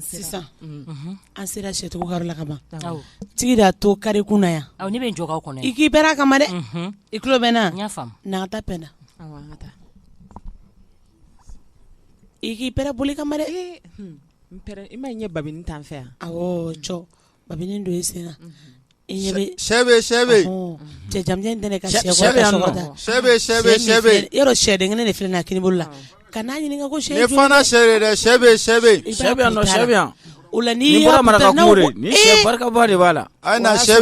Sisan an sera sɛsugu la ka ban tigi da to kari kun yan ne bɛ jɔ kɔnɔ i k'i bɛ kama dɛ i tulo bɛ na n' ta bɛnna i k'i boli kama i ma ɲɛ ba t'an fɛ yan ba don i sen sɛ bɛ sɛ bɛ cɛ ka yɔrɔ sɛden kelen de filɛ na kini bolo la ka n'a ɲini ko sɛ sɛ o la nin bɔra maraka barikaba de b'a la a sɛ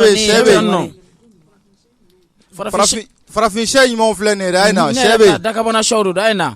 farafin sɛ ɲuman filɛ nin a sɛ dakabanaw don a ye na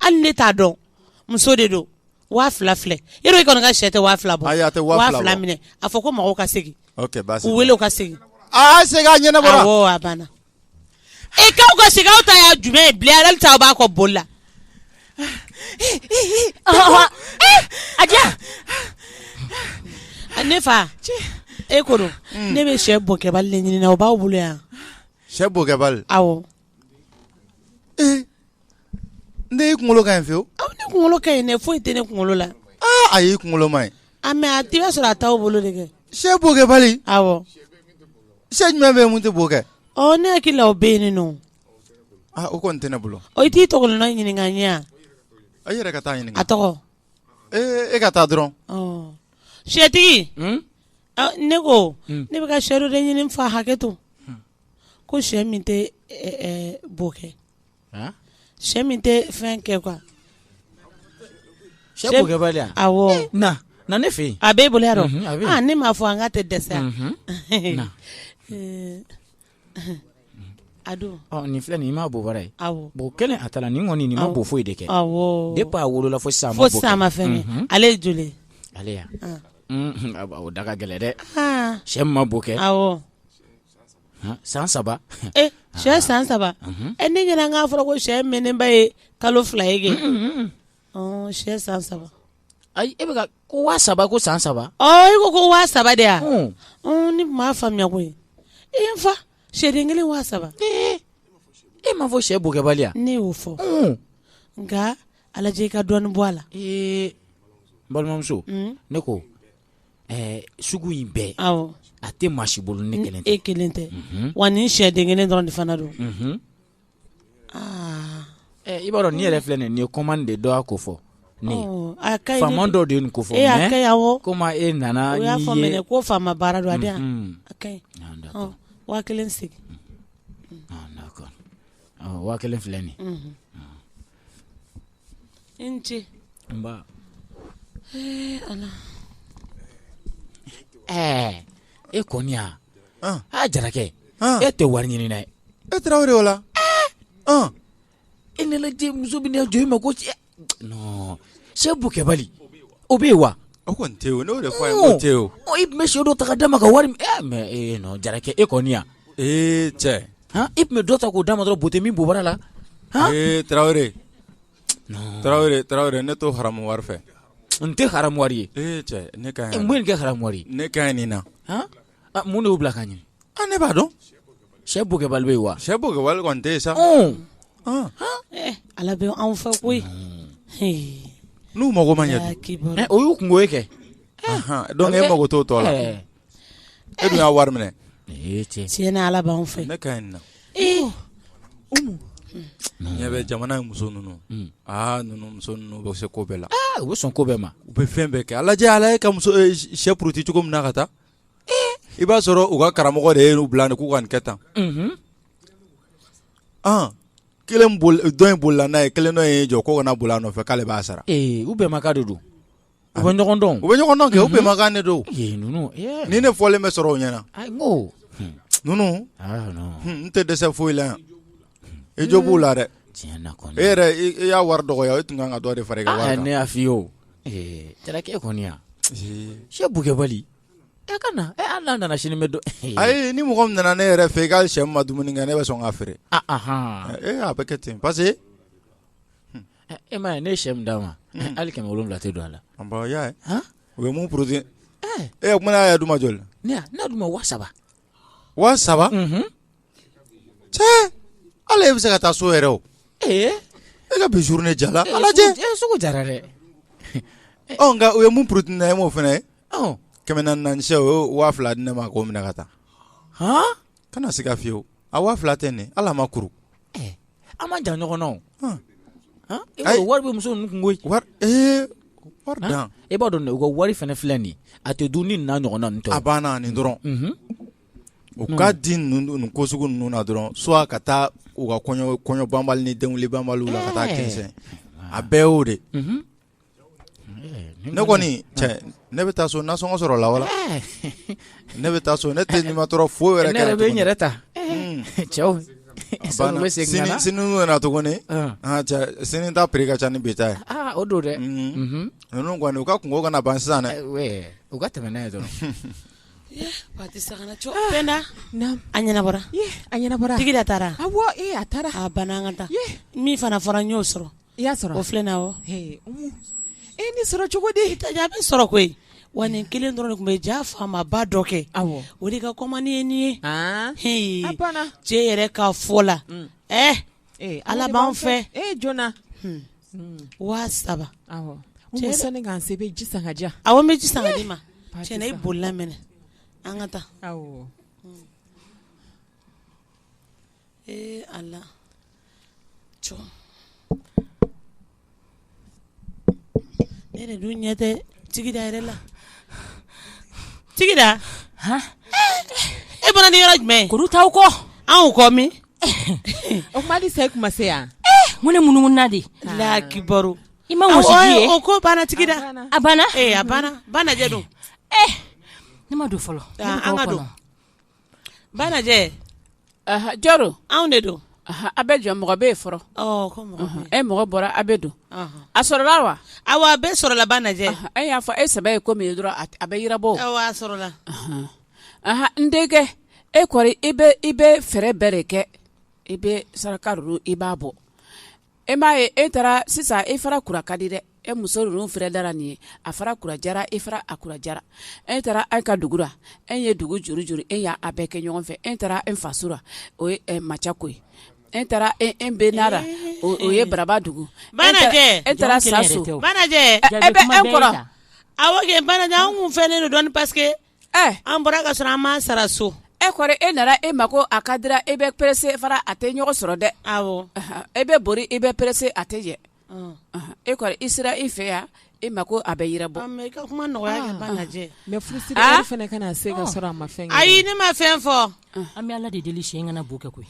hali ne t'a dɔn muso de don waa fila filɛ e i kɔni ka sɛ tɛ waa fila bɔ fila minɛ a fɔ ko mɔgɔw ka segin u wele u ka segin a ɲɛnabɔra awɔ a banna k'aw ka segin aw ta y'a jumɛn ye bilen ale ta b'a kɔ boli la a ne fa e ko ne bɛ sɛ bokɛbali de ɲini na o b'aw bolo yan sɛ bokɛbali aw N den i kunkolo ka ɲi fewu awɔ ne kunkolo ka ɲi dɛ foyi tɛ ne kunkolo la ayi i kunkolo man ɲi a mɛ a t'i b'a sɔrɔ a t'aw bolo de kɛ sɛ bokɛbali awɔ sɛ jumɛn bɛ yen min tɛ bo kɛ ne hakili la o bɛ yen nɔ o kɔni tɛ ne bolo o t'i tɔgɔ ɲininka n ye a yɛrɛ ka taa ɲini a tɔgɔ e ka taa dɔrɔn sɛtigi ne ko ne bɛ ka sɛ dɔ de ɲini fa hakɛ to ko sɛ min tɛ bo kɛ sɛ min tɛ fɛn kɛ kuwa sɛ na ne fɛ a b'e bolo dɔn ne m'a fɔ an ka tɛ dɛsɛ a don nin filɛ nin i ma bɔra ye bon kelen a taara nin kɔni nin ma bo foyi de kɛ depuis a wolola fo sisan a ma fɛn kɛ ale ye joli ale ya o da ka gɛlɛn dɛ sɛ ma bo kɛ San saba sɛ san saba e ne ɲɛna an k'a fɔra ko sɛ mɛnnenba ye kalo fila ye kɛ sɛ san saba ayi e bɛ ko waa saba ko san saba i ko ko waa saba de ya ne m'a faamuya koyi n fa sɛden kelen waa saba e m'a fɔ sɛ bokɛbali ya ne y'o fɔ nka a lajɛ i ka dɔɔnin bɔ a la balimamuso ne ko sugu in bɛɛ a tɛ maa si bolo ne kelen tɛ e kelen tɛ wa nin sɛden kelen dɔrɔn de fana don aa i b'a dɔn nin yɛrɛ filɛ nin ye kɔmandi de dɔ y'a ko fɔ faama dɔ de ye nin ko fɔ komi e nana o y'a fɔ ko faama baara don a a waa kelen segin waa kelen filɛ nin i ni ce nba ee ala ɛɛ e kɔni ya An. a jarakɛ An. e tɛ wari ɲinina ye e tarawele o la An. e ne lajɛ muso bɛ ne jɔ i ma ko cɛ non sɛ bokɛbali o bɛ yen wa o kɔni tɛ yen o ne y'o de fɔ a ye ko tɛ yen o ɔ i tun bɛ sɛ dɔ ta ka d'a ma ka wari minɛ mais ee non jarakɛ e kɔni ya Ee cɛ i tun bɛ dɔ ta k'o d'a ma dɔrɔn bo tɛ min bobara la ee tarawele tarawele tarawele ne t'o haramu wari fɛ n tɛ haramu wari ye ne kɛ haramu wari ne ka nin na mun de y'u bila ka ɲɛ ne b'a dɔn sɛ bokɛbali bɛ yen wa sɛ bokɛbali kɔni tɛ yen sa ala bɛ anw fɛ koyi n'u mago ma ɲɛ o y'u kunko ye kɛ donc e mago t'o tɔ la E dun y'a wari minɛ tiɲɛ ni ala b'an fɛ ne ka ɲi na ɲɛ bɛ jamana in muso ninnu aa ninnu muso ninnu bɛ se ko bɛɛ la u bɛ sɔn ko bɛɛ ma u bɛ fɛn bɛɛ kɛ ala ala e ka muso sɛ puruti cogo min na ka taa i b'a sɔrɔ u ka karamɔgɔ de ye n'u bila k'u ka nin kɛ tan kelen dɔ in bolila n'a ye kelen dɔ ye jɔ ko kana boli a nɔfɛ k'ale b'a sara u bɛnmakan de don U bɛ ɲɔgɔn dɔn u bɛ ɲɔgɔn dɔn kɛ u bɛnmakan de don ni ne fɔlen bɛ sɔrɔ o ɲɛna ninnu n tɛ dɛsɛ foyi la yan i jo b'o la dɛ e yɛrɛ i y'a wari dɔgɔya e tun kan ka dɔ de fara i kan ne y'a fɔ i ye o jarakɛ kɔni ya sɛ bokɛbali e ka na e hali n'a nana sini bɛ don ayi ni mɔgɔ min nana ne yɛrɛ fɛ i ka sɛ ma dumuni kɛ ne bɛ sɔn k'a feere a bɛ kɛ ten parce que E ma ye ne sɛ min d'a ma hali kɛmɛ wolonwula tɛ don a la u ye mun puruti o kuma y'a d'u ma joli n'a d'u ma waa saba waa saba cɛ ala e bɛ se ka taa so yɛrɛ o e ka bi journée jala sugu jara dɛ nka u ye mun puruti e ma o fana kɛmɛ naani sɛ o waa fila di ne ma k'o minɛ ka taa hɔn kana siga fiyewu a waa fila tɛ nin ala ma kuru eh, an ma jan ɲɔgɔn na o e wari bɛ muso ninnu kun koyi wari ee wari dan e b'a dɔn u ka wari fana filɛ nin a tɛ dun ni nin n'a ɲɔgɔnna ninnu tɛ a banna nin dɔrɔn mhm. u k'a di nin ko sugu ninnu na dɔrɔn soit ka taa u ka kɔɲɔ kɔɲɔ banbali ni denwuli banbaliw la ka taa eh. kɛnsɛn a bɛɛ y'o de mhm. ne kɔni ne bɛ taa so nasɔngɔ sɔrɔla wala ne bɛ taa so ne tɛ nimatɔɔrɔ foyi wɛrɛ ne bɛ n yɛrɛ ta cɛw sini nana tuguni sini ta piri ka ca ni bi ta ye o don dɛ ninnu kɔni u ka kungo kana ban sisan dɛ u ka tɛmɛ ne ye dɔrɔn a ɲɛnabɔra tigida taara a taara a banna an ka taa min fana fɔra n y'o sɔrɔ I y'a sɔrɔ o filɛ na wa e ni sɔrɔ cogo di ta a bɛ sɔrɔ koyi wa nin kelen dɔrɔn de tun bɛ ja faamaba dɔ kɛ o de ka kɔmani ye nin ye h cɛ yɛrɛ ka fɔ la ɛ ala b'an fɛ e joona waa saba sani k'an se bɛ ji san ka diya aw bɛ ji san di ma tiɲɛ na i b'o laminɛ an ka taa aw ee a la ne dun ɲɛ tɛ tigida yɛrɛ la tigida e bɔra ni yɔrɔ jumɛn kuru t'aw kɔ anw kɔ min o kuma di sa e kuma se yan ko ne munumununa de la kibaru i ma wɔsiji ye o ko banna tigida a banna a banna banajɛ don ne ma don fɔlɔ an ka don banajɛ jɔn don anw de don a bɛ jɔ mɔgɔ bɛ yen fɔlɔ e mɔgɔ bɔra a bɛ don a sɔrɔla wa awa a bɛɛ sɔrɔla banajɛ e y'a fɔ e sɛbɛ ye ko min ye dɔrɔn a bɛ yirabɔ a sɔrɔla n denkɛ e kɔri i bɛ fɛɛrɛ bɛɛ de kɛ i bɛ saraka ninnu i b'a bɔ e m'a ye e taara sisan e fara kura ka di dɛ e muso ninnu fɛrɛ dara nin ye a fara kurajara e fara a kurajara e taara an ka dugu la e ye dugu juru juru e y'a bɛɛ kɛ ɲɔgɔn fɛ e taara e fasura o ye macako ye e taara e benara o ye baraba dugu e e taara saso e bɛ e kɔrɔ a banajɛ an kun fɛnnen don dɔɔni paseke an bɔra ka sɔrɔ an m'an sara so e kɔrɔ e nana e mako a ka dira e bɛ perese fara a tɛ ɲɔgɔn sɔrɔ dɛ e bɛ boli e bɛ perese a tɛ jɛ e kɔrɔ i sera e fɛ yan e mako a bɛ yirabɔ mɛ se ka sɔrɔ a ma fɛn ayi ne ma fɛn fɔ an bɛ ala de deli siɲɛ kana bɔ kɛ koyi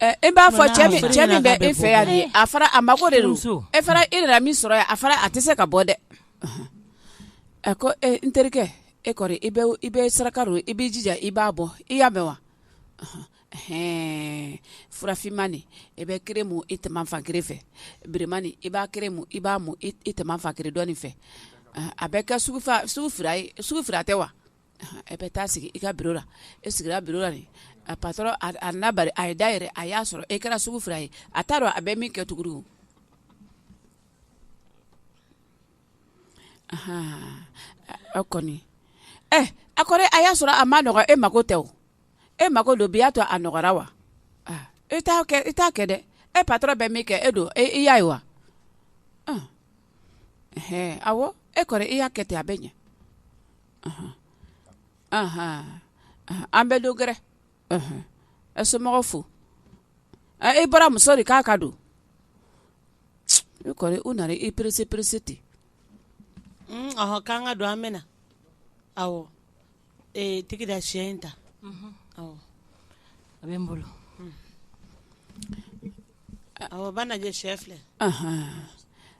e b'a fɔ cɛ min bɛ e fɛ yan de a fara a mako de don e fara e nana min sɔrɔ yan a fara a tɛ se ka bɔ dɛ a ko n terikɛ e kɔrɔ i i bɛ saraka don i b'i jija i b'a bɔ i y'a mɛn wa hɛn fura finman nin i bɛ kere mu i tɛ fan kelen fɛ bilenman nin i b'a kere mu i b'a mu i tɛ fan kelen dɔ in fɛ a bɛ kɛ sugu fila tɛ wa e bɛ taa sigi i ka biro la e sigira biro la ni a patɔrɔn a na a ye da yɛrɛ a y'a sɔrɔ e kɛra sugu fila ye a t'a dɔn a bɛ min kɛ tugu o kɔni a kɔrɔ a y'a sɔrɔ a ma nɔgɔ e mako tɛ o e mako don bi y'a to a nɔgɔra wa e t' kɛ e t'a kɛ dɛ e patɔrɔn bɛ min kɛ e don e i y'a ye wa awɔ e kɔrɔ e y'a kɛ ten a bɛ ɲɛ an bɛ don gɛrɛ ɛ somɔgɔw fo e bɔra muso de k'a ka don e kɔrɔ u nana i perese perese ten k'an ka don an bɛ na awɔ tigi da shɛ in ta awɔ a bɛ n bolo awɔ banajɛ shɛ filɛ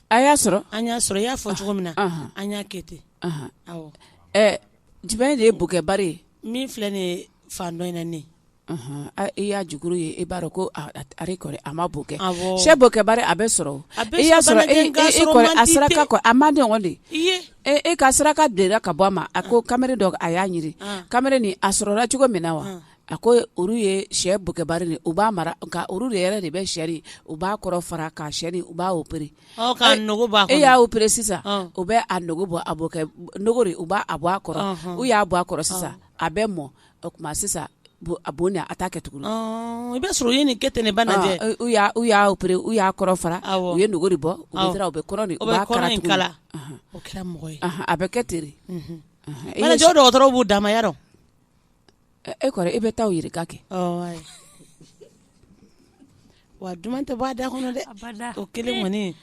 a y'a sɔrɔ an y'a sɔrɔ i y'a fɔ cogo min na an y'a kɛ ten Jumɛn de ye bokɛbari ye min filɛ nin ye fan dɔ in ne e y'a jukuru ye e b'a dɔn ko a ma bo kɛ shɛ bokɛbari a bɛ sɔrɔ e y'a sɔrɔ a saraka kɔ a ma dɔn de e ka saraka de ka bɔ a ma a ko kamalen dɔ a y'a ɲini kamalen nin a sɔrɔla cogo min na wa a ko olu ye shɛ bokɛbari u b'a mara nka olu de yɛrɛ de bɛ sin u b'a kɔrɔ fara ka sin u b'a opere e y'a opere sisan u bɛ a nugu bɔ a bo kɛ nugu de u b'a bɔ a kɔrɔ u y'a bɔ a kɔrɔ sisan a bɛ mɔ o tuma sisan a bo a t'a kɛ tugun i bɛ sɔrɔ u ye nin kɛ ten ne banajɛ u y'a opere u y'a kɔrɔ fara u ye nugu de bɔ u u bɛ kɔrɔ a bɛ kɛ ten banajɛ dɔgɔtɔrɔw b'u damaba dɔn e kɔrɔ e bɛ taa yɛrɛ ka kɛ wa duman tɛ bɔ a da kɔnɔ dɛ o kelen kɔni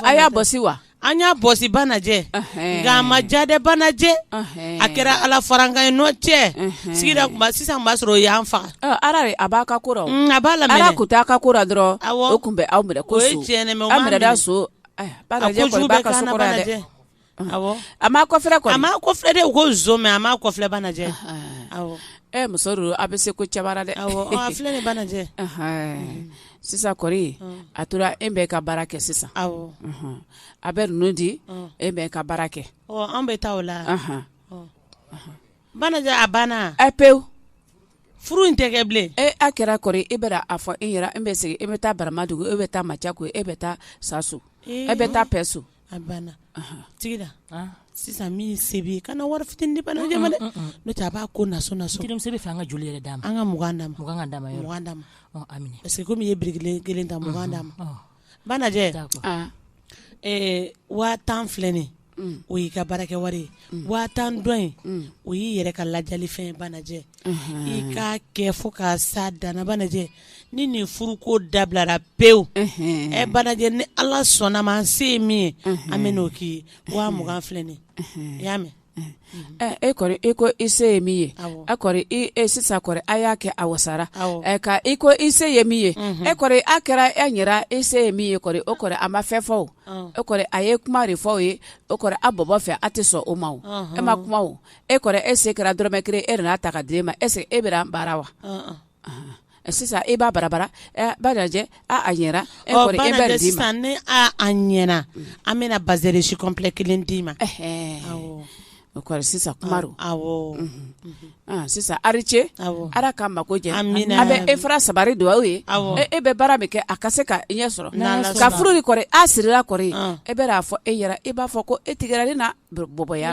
a y'a bɔsi wa an y'a bɔsi banajɛ nka a ma ja dɛ banajɛ a kɛra ala farankan ye n'o tɛ sigira sisan b'a sɔrɔ o y'an faga ala a b'a ka ko a b'a la ala tun t'a ka ko dɔrɔn o tun bɛ aw minɛ ko so A ma kɔfilɛ a ma kɔfilɛ dɛ ko mɛ a ma kɔfilɛ banajɛ ɛ muso don a bɛ se ko cɛ bara dɛ a filɛ banajɛ sisan kɔrɔ a tora e bɛ ka baara kɛ sisan a bɛ ninnu di e bɛ ka baara kɛ an bɛ taa o la banajɛ a banna a pewu furu in tɛ kɛ bilen e a kɛra kɔrɔ e bɛ a fɔ e e bɛ segin e bɛ taa baramadugu e bɛ taa ma cɛ ko e bɛ taa sa so e bɛ taa so A banna Tigida sisan min se b'i kana wari fitinin di banajɛ ma dɛ n'o tɛ a b'a ko Nasu fɛ an ka joli yɛrɛ d'a ma an ka mugan d'a ma parce que kɔmi i ye biriki kelen ta mugan d'a ma banajɛ waa tan filɛ nin o y'i ka baarakɛ wari ye waa tan dɔ in o y'i yɛrɛ ka lajali fɛn banajɛ i k'a kɛ fo ka se a dan na banajɛ ni nin furu ko dabilara pewu ɛ banajɛ ni ala sɔnna ma an se ye min ye an bɛ n'o k'i ye waa mugan filɛ nin i y'a mɛn e kɔni i ko i se ye min ye e kɔni e sisan kɔni a y'a kɛ a wasara ka i ko i se ye min ye e kɔni a kɛra e yɛrɛ i se ye min ye kɔni o kɔni a ma fɛn fɔ e kɔni a ye kuma de fɔ o ye o kɔni a bɔbɔ fɛ a tɛ sɔn o ma e ma kuma e kɔni e se kɛra dɔrɔmɛ kelen e n'a ta ka di e ma est-ce que e bɛna baara wa sisan e b'a barabara banajɛ a ɲɛna e kɔri e bɛ di ma ni a ɲɛna an bɛna bazɛn risi kɔnplɛ kelen d'i ma o sisan sisan ari ce ala ka mako ɲɛ a bɛ e fara sabari don aw ye e bɛ baara min kɛ a ka se ka i ɲɛ sɔrɔ ka furu nin kɔri a sirila kɔri e bɛna a fɔ e yɛrɛ e b'a fɔ ko e tigɛra ne na bɔbɔya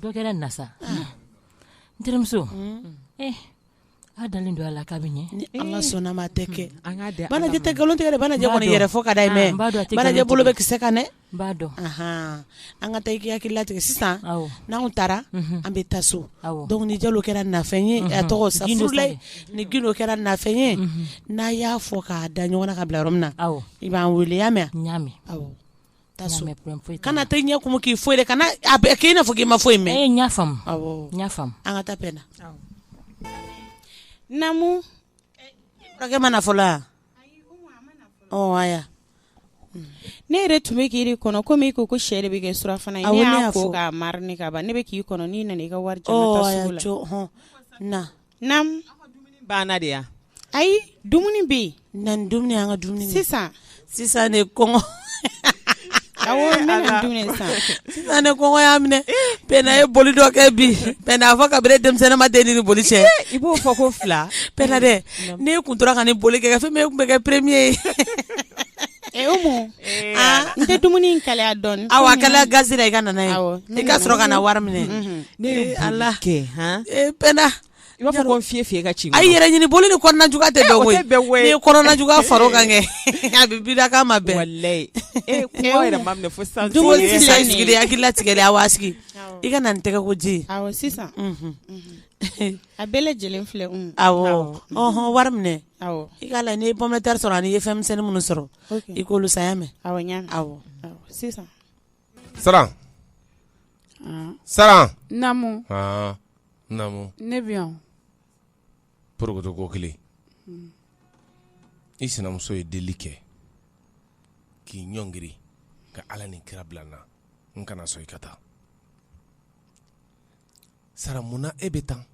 Dɔ kɛra na sa unh n terimuso unnn ee a dalen don a la k'a bɛ ɲɛ ni Ala sɔnn'a ma a tɛ kɛ an ŋ'a di Ala ma Banajɛ tɛ galon tigɛ dɛ Banajɛ kɔni yɛrɛ fɔ ka d'a ye mais Banajɛ bolo bɛ kisɛ kan dɛ n b'a dɔn anhaan an ŋa taa i k'i hakili latigɛ sisan awɔ n'anw taara unhun an bɛ taa so awɔ donc ni jalo kɛra nafɛn ye a tɔgɔ sa furu la ni gindo kɛra nafɛn ye unhun n'a y'a fɔ k'a da ɲɔgɔn na ka bila yɔrɔ min na awɔ i b'an weele i y'a mɛ a n y'a mɛ awɔ kana tɛ ɲɛ kun k'i foyi kana k'i na k' i ma fɔ in mɛn an ka taa na namu ma na fɔlɔ ne yɛrɛ tun bɛ k'i kɔnɔ komi ko ko sɛ de bɛ kɛ surafana ka ne k'i nana i ka wari Naamu banna de yan ayi dumuni bɛ yen na dumuni an ka dumuni sisan sisan ne kɔngɔ sisan ne kɔngɔ y'a minɛ Pɛnda ye boli dɔ kɛ bi Pɛnda a fɔ kabini denmisɛnninma de n ni boli cɛ i b'o fɔ ko fila pɛnda dɛ ne kun tora ka ni boli kɛ fɛn min kun bɛ kɛ premier ye n tɛ dumuni in kalaya dɔɔnin awɔ a kalaya gazi la i ka na n'a ye i ka sɔrɔ ka na wari minɛ ne la kɛ Pɛnda i b'a fɔ fi fi ka ci a yɛrɛ ɲini boli ni kɔnɔna juguya tɛ bɛn koyi ni kɔnɔna juguya far'o kan kɛ i b'i da k'a ma bɛn i hakili latigɛ a wa sigi i ka na ni tɛgɛ ko ji sisan a bɛɛ lajɛlen filɛ wari minɛ i k'a la n'i ye pomme de terre sɔrɔ ani i ye fɛnmisɛnnin minnu sɔrɔ i k'olu san i y'a mɛn sisan Saran Saran ne bɛ porokoto ko kelen hmm. i sinamuso ye deli kɛ k'i ɲɔngiri ka ala ni kira bila n na n kana sɔn i ka taa Saran munna e bɛ tan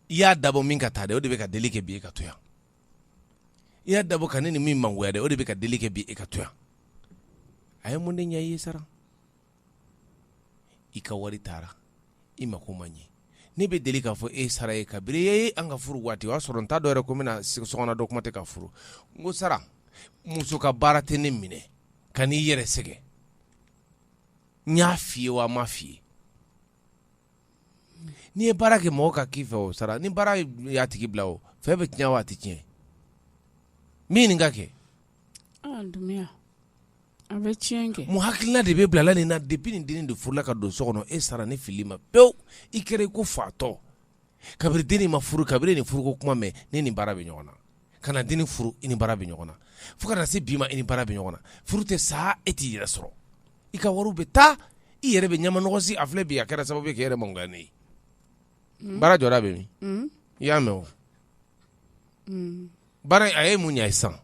i y'a dabɔ min ka taa dɛ o de bɛ ka deli kɛ bi e ka to yan i y'a dabɔ ka ne ni min mangoya dɛ o de bɛ ka deli kɛ bi e ka to yan a ye mun de ɲɛ i ye Saran i ka wari taara i mako ma ɲɛ ne bɛ deli k'a fɔ e Saran ye kabiri e ye an ka furu waati o y'a sɔrɔ n t'a dɔn yɛrɛ ko n bɛna Sɔgɔna dɔn kuma tɛ k'a furu n ko Saran muso ka baara tɛ ne minɛ kana i yɛrɛ sɛgɛn n y'a f'i ye wa n m'a f'i ye n'i ye baara kɛ mɔgɔ ka k'i fɛ o sara ni baara y'a tigi bila o fɛn bɛ tiɲɛ wa a tɛ tiɲɛ min nin ka kɛ ah, a bɛ tiɲɛ kɛ mun hakilina de bɛ bilala nin na depuis nin dennin de furula ka don so kɔnɔ e Saran ni fili ma pewu i kɛra i ko fatɔ kabiri dennin ma furu kabiri nin furuko kuma mɛnna i ni baara bɛ ɲɔgɔn na ka na dennin furu i ni baara bɛ ɲɔgɔn na fo ka na se bi ma i ni baara bɛ ɲɔgɔn na furu tɛ sa e t'i yɛrɛ sɔrɔ i ka wariw bɛ taa i yɛrɛ bɛ ɲamanɔgɔsi a filɛ bi a kɛra sababu ye k'i yɛrɛ mangoya ne ye mm. baara jɔda bɛ min mm. i y'a mɛn o mm. baara a ye mun ɲɛ sisan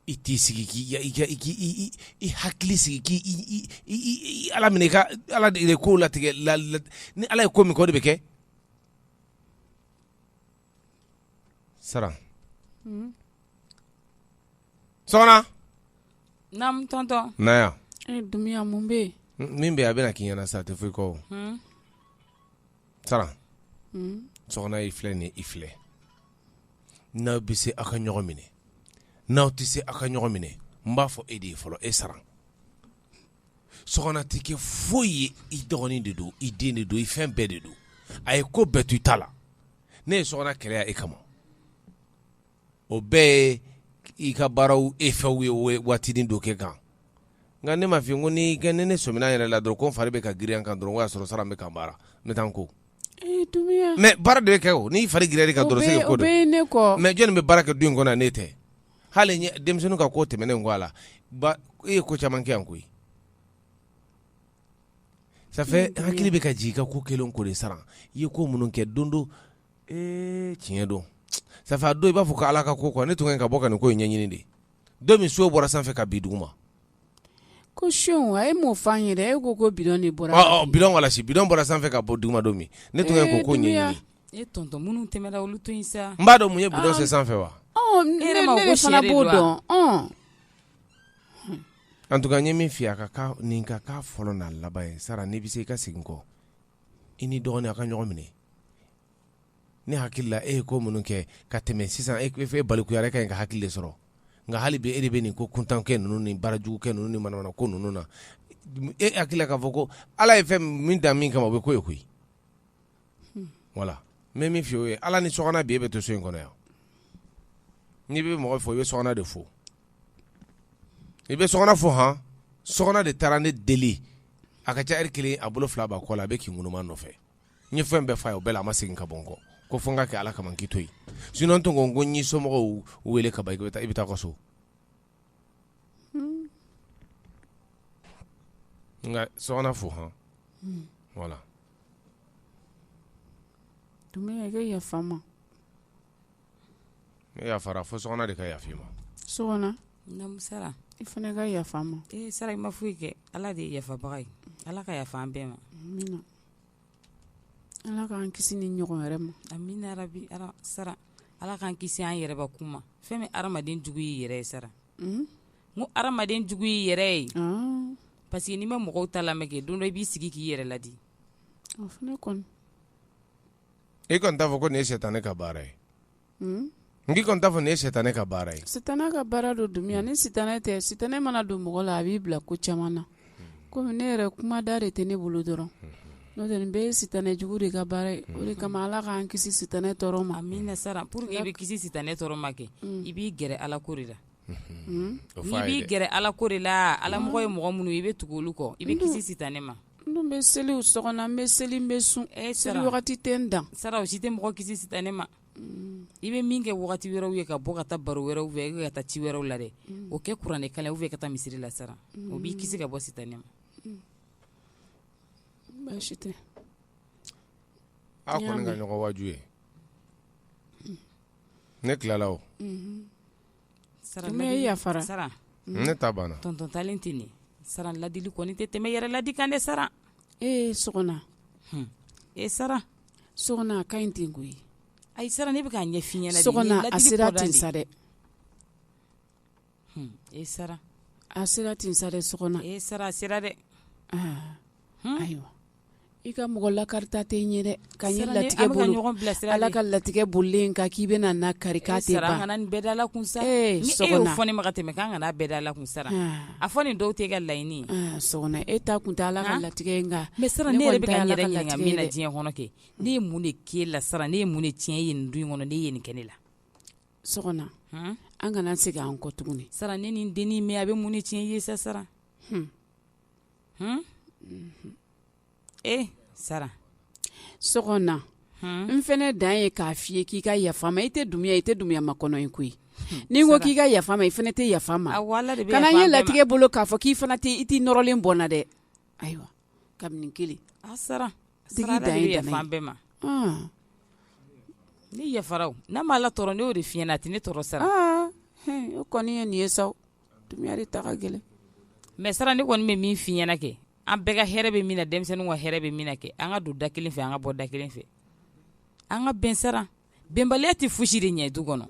I t'i sigi k'i hakili sigi k'ala minɛ ka ala de ko latigɛ la ni ala ye ko min kɛ o de bɛ kɛ Saran bɛ min bɛ a bɛna k'i ɲɛna sa a tɛ foyi kɔ i filɛ nin i filɛ n'aw bɛ se aw ka ɲɔgɔn minɛ n'aw tɛ se aw ka ɲɔgɔn minɛ n b'a fɔ e de ye fɔlɔ e Saran Sɔgɔna tɛ kɛ foyi ye i dɔgɔnin de don i den de don i fɛn bɛɛ de don a ye ko bɛɛ to i ta la ne ye Sɔgɔna kɛlɛ yan e kama o bɛɛ ye i ka baaraw efɛw ye waatinin dɔ kɛ n kan nka ne m'a f'i ye ko ni ne sɔmina yɛrɛ la dɔrɔn ko n fari bɛ ka girinya n kan dɔrɔn o y'a sɔrɔ Saran bɛ ka baara n taa ko mais baara de bɛ kɛ o n'i fari girinyar'i kan dɔrɔn c'est que mais jɔnni bɛ baara kɛ du in kɔnɔ ne tɛ hali denmisɛnnin ka ko tɛmɛnen ko a la e ye ko caman kɛ yan koyi ça fait hakili bɛ ka jigin i ka ko kɛlen ko de Saran i ye ko minnu kɛ don don ee tiɲɛ don ça fait a don i b'a fɔ ko Ala ka ko quoi ne tun ka ɲi ka bɔ ka nin ko in ɲɛɲini de, don min seau bɔra sanfɛ ka bin duguma, ko seau a ye mun fɔ an ye dɛ, e ko ko bidon de bɔra, ɔ ɔ bidon wala si, bidon bɔra sanfɛ ka bɔ duguma don min, ne tun ka ɲi k'o ko ɲɛɲini, ee tonton minnu tɛmɛna olu to yen sa, n b'a dɔn mun ye bidon se sanfɛ wa, ɔ ne yɛrɛ b'a fɔ ko sɛ de don wa, ɔn, en tout cas n ye min f'i ye a ka k'a nin ka k'a fɔlɔ n'a laban ye sara n'i bɛ se i ka segin kɔ i ni dɔgɔnin a ka ɲɔgɔn minɛ ne hakili la e ye ko minnu kɛ ka tɛmɛ sisan e e balikuyara i ka ɲi ka hakili de sɔrɔ nka hali bi e de bɛ nin ko kuntankɛ ninnu ni baarajugukɛ ninnu ni manamana ko ninnu na e hakili la k'a fɔ ko ala ye fɛn min dan min kama o bɛ ko ye koyi hmm. voilà n bɛ min f'i ye ala ni Sɔgɔna bi e bɛ to so in kɔnɔ yan n'i bɛ mɔgɔ fo i bɛ Sɔgɔna de fo i bɛ Sɔgɔna fo hɔn Sɔgɔna de taara ne deli a ka ca heure kelen a bolo fila b'a kɔ la a bɛ k'i ŋunuma n nɔfɛ n ye fɛn bɛɛ f'a ye o bɛɛ la a ma segin ka bɔ n kɔ ko fo n ka kɛ ala kama n k'i to yen sinon tun ko n ko n y'i somɔgɔw wele ka ban i bɛ taa ka so nka Sɔgɔna fo hɔn hmm. voilà Dunbiya yafa n ma Ne yafara fo Sɔgɔna de ka yafa i ma Sɔgɔna i fana ka yafa n ma e sara i ma foyi kɛ ala de ye yafabaga ye ala ka yafa an bɛɛ ma ala k'an kisi nin ɲɔgɔn wɛrɛ ma amina yarabi sara ala k'an kisi an yɛrɛbakun ma fɛn min hadamaden jugu y'i yɛrɛ ye sara n ko hadamaden jugu y'i yɛrɛ ye parce que n'i ma mɔgɔw ta lamɛn kɛ don dɔ i b'i sigi k'i yɛrɛ ladi e kɔni t'a fɔ ko nin ye sitanɛ ka baara ye, un, n k'i kɔni t'a fɔ nin ye sitanɛ ka baara ye, sitanɛ ka baara don Dunbiya ni sitanɛ tɛ sitanɛ mana don mɔgɔ la a b'i bila ko caman na komi ne yɛrɛ kuma da de tɛ ne bolo dɔrɔn n'o tɛ nin bɛɛ ye sitanɛ jugu de ka baara ye o de kama Ala k'an kisi sitanɛ tɔɔrɔ ma, amina sara pour que i bɛ kisi sitanɛ tɔɔrɔ ma kɛ i b'i gɛrɛ Ala ko de la, un, n'i b'i gɛrɛ Ala ko de la Ala mɔgɔ ye mɔgɔ minnu ye i bɛ tugu olu kɔ i bɛ kisi sitanɛ ma N bɛ seli so n bɛ seli n bɛ sun e seli wagati tɛ n dan sara o si tɛ mɔgɔ kisi sitanɛ ma i bɛ min kɛ waati wɛrɛw ye ka bɔ ka taa baro wɛrɛw fɛ i ka taa ci wɛrɛw la dɛ o kɛ kuranɛ kalan fɛ ka taa misiri la sara o b'i kisi ka bɔ sitanɛ ma baasi tɛ a kɔni ka ɲɔgɔn waju ye ne tilala ne yafara ne ta banna tonton taalen tɛ nin sara ladili kɔni tɛ tɛmɛ yɛrɛ ladi kan dɛ sara e Sɔgɔna e sara Sɔgɔna a ka ɲi ten koyi ayi sara ne bɛ k'a ɲɛ f'i ɲɛna Sɔgɔna a sera ten sa dɛ e sara a sera ten sa dɛ Sɔgɔna e sara a sera dɛ ayiwa I ka mɔgɔ lakarita tɛ n ye ka ala ka latigɛ bolilen kan k'i bɛna n lakari sa sa tɛmɛ k'an kana bɛɛ da la sa a fɔ nin dɔw tɛ ka laɲini e ta kun ala ka latigɛ kan ne diɲɛ kɔnɔ kɛ ne ye mun de k'e la sara ne ye mun de tiɲɛ ye nin du kɔnɔ n'e ye nin kɛ ne la sogona an kana segin an kɔ tuguni sara ne ni dennin min a bɛ mun de tiɲɛ ye sa sara e sara sogona n fɛnɛ dan ye k'a f'i ye k'i ka yafa ma i tɛ dumiya i tɛ dumiya ma kɔnɔ in koyi ni n ko k'i ka yafa ma i fɛnɛ tɛ yafa n ma kana n ye latigɛ bolo k'a fɔ k'i fana i t'i nɔrɔlen bɔ n na dɛ ayiwa kabini kelen sara bɛɛ ma ne yafara o n'a ma ala tɔɔrɔ ne y'o de f'i ɲɛna a tɛ ne tɔɔrɔ sara o kɔni ye nin ye sa Dumiya de ta ka gɛlɛn mais sara ne kɔni bɛ min f'i ɲɛna kɛ an bɛɛ ka hɛrɛ bɛ min na denmisɛnninw ka hɛrɛ bɛ min na kɛ an ka don da kelen fɛ an ka bɔ da kelen fɛ an ka bɛn sara bɛnbaliya tɛ foyisi de ɲɛ du kɔnɔ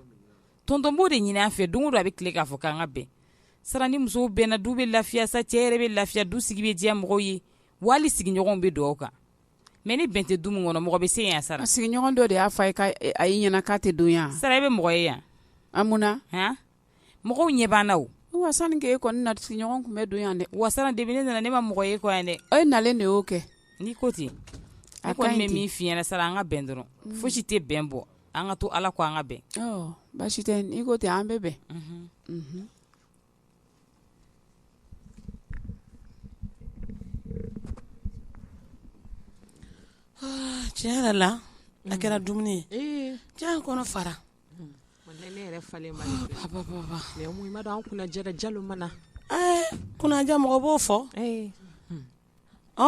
tonton b'o de ɲini an fɛ don o don a bɛ tile k'a fɔ k'an ka bɛn sara ni musow bɛnna du bɛ lafiya sa cɛ yɛrɛ bɛ lafiya du sigi bɛ diya mɔgɔw ye wali sigiɲɔgɔnw bɛ dugawu kan mais ni bɛn tɛ du min kɔnɔ mɔgɔ bɛ se yan sara sigiɲɔgɔn dɔ de y'a fɔ e ɲɛna k'a tɛ don yan sara i bɛ mɔgɔ ye yan a mun mɔgɔw ɲɛ b'an na wa sani k'e kɔni na sigiɲɔgɔn tun bɛ don yan dɛ wa sara depuis ne nana ne ma mɔgɔ ye kɔ yan dɛ e nalen de y'o kɛ n'i ko ten a kɔni bɛ min f'i ɲɛna sara an ka bɛn dɔrɔn mm. fosi tɛ bɛn bɔ an ka to ala kɔ an ka bɛn baasi tɛ n'i ko ten an bɛ bɛn mhm. Mhm. Ah, tiɲɛ yɛrɛ la a kɛra mm. dumuni ye diya kɔnɔ fara Kunnaja mɔgɔ b'o fɔ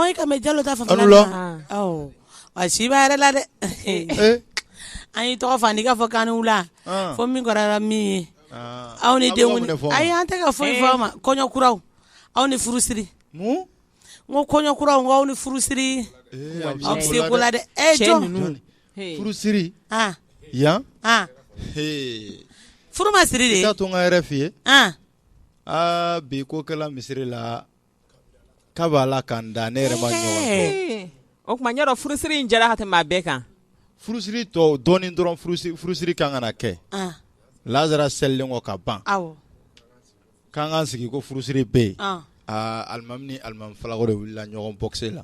i ka mɛ jalo ta fan fɛ si b'a yɛrɛ la dɛ an y'i tɔgɔ fɔ n'i ka fɔ k'an wula fo min kɛra min ye aw ni denw ayi an tɛ ka foyi fɔ aw ma kɔɲɔkuraw aw ni furusiri n ko kɔɲɔkuraw aw ni furusiri aw bɛ se ko la dɛ e jɔn furusiri yan furu ma siri de to n k'a yɛrɛ f'i ye aa bi ko kɛla misiri la ka b'a la k'an da ne yɛrɛ o tuma yɔrɔ furusiri in jara ka tɛmɛ bɛɛ kan furusiri tɔ dɔɔnin dɔrɔn furusiri ka kan ka na kɛ lasara selilen kɔ ka ban k'an k'an sigi ko furusiri bɛ yen alimami ni alimami falako de wulila ɲɔgɔn bɔkisɛ la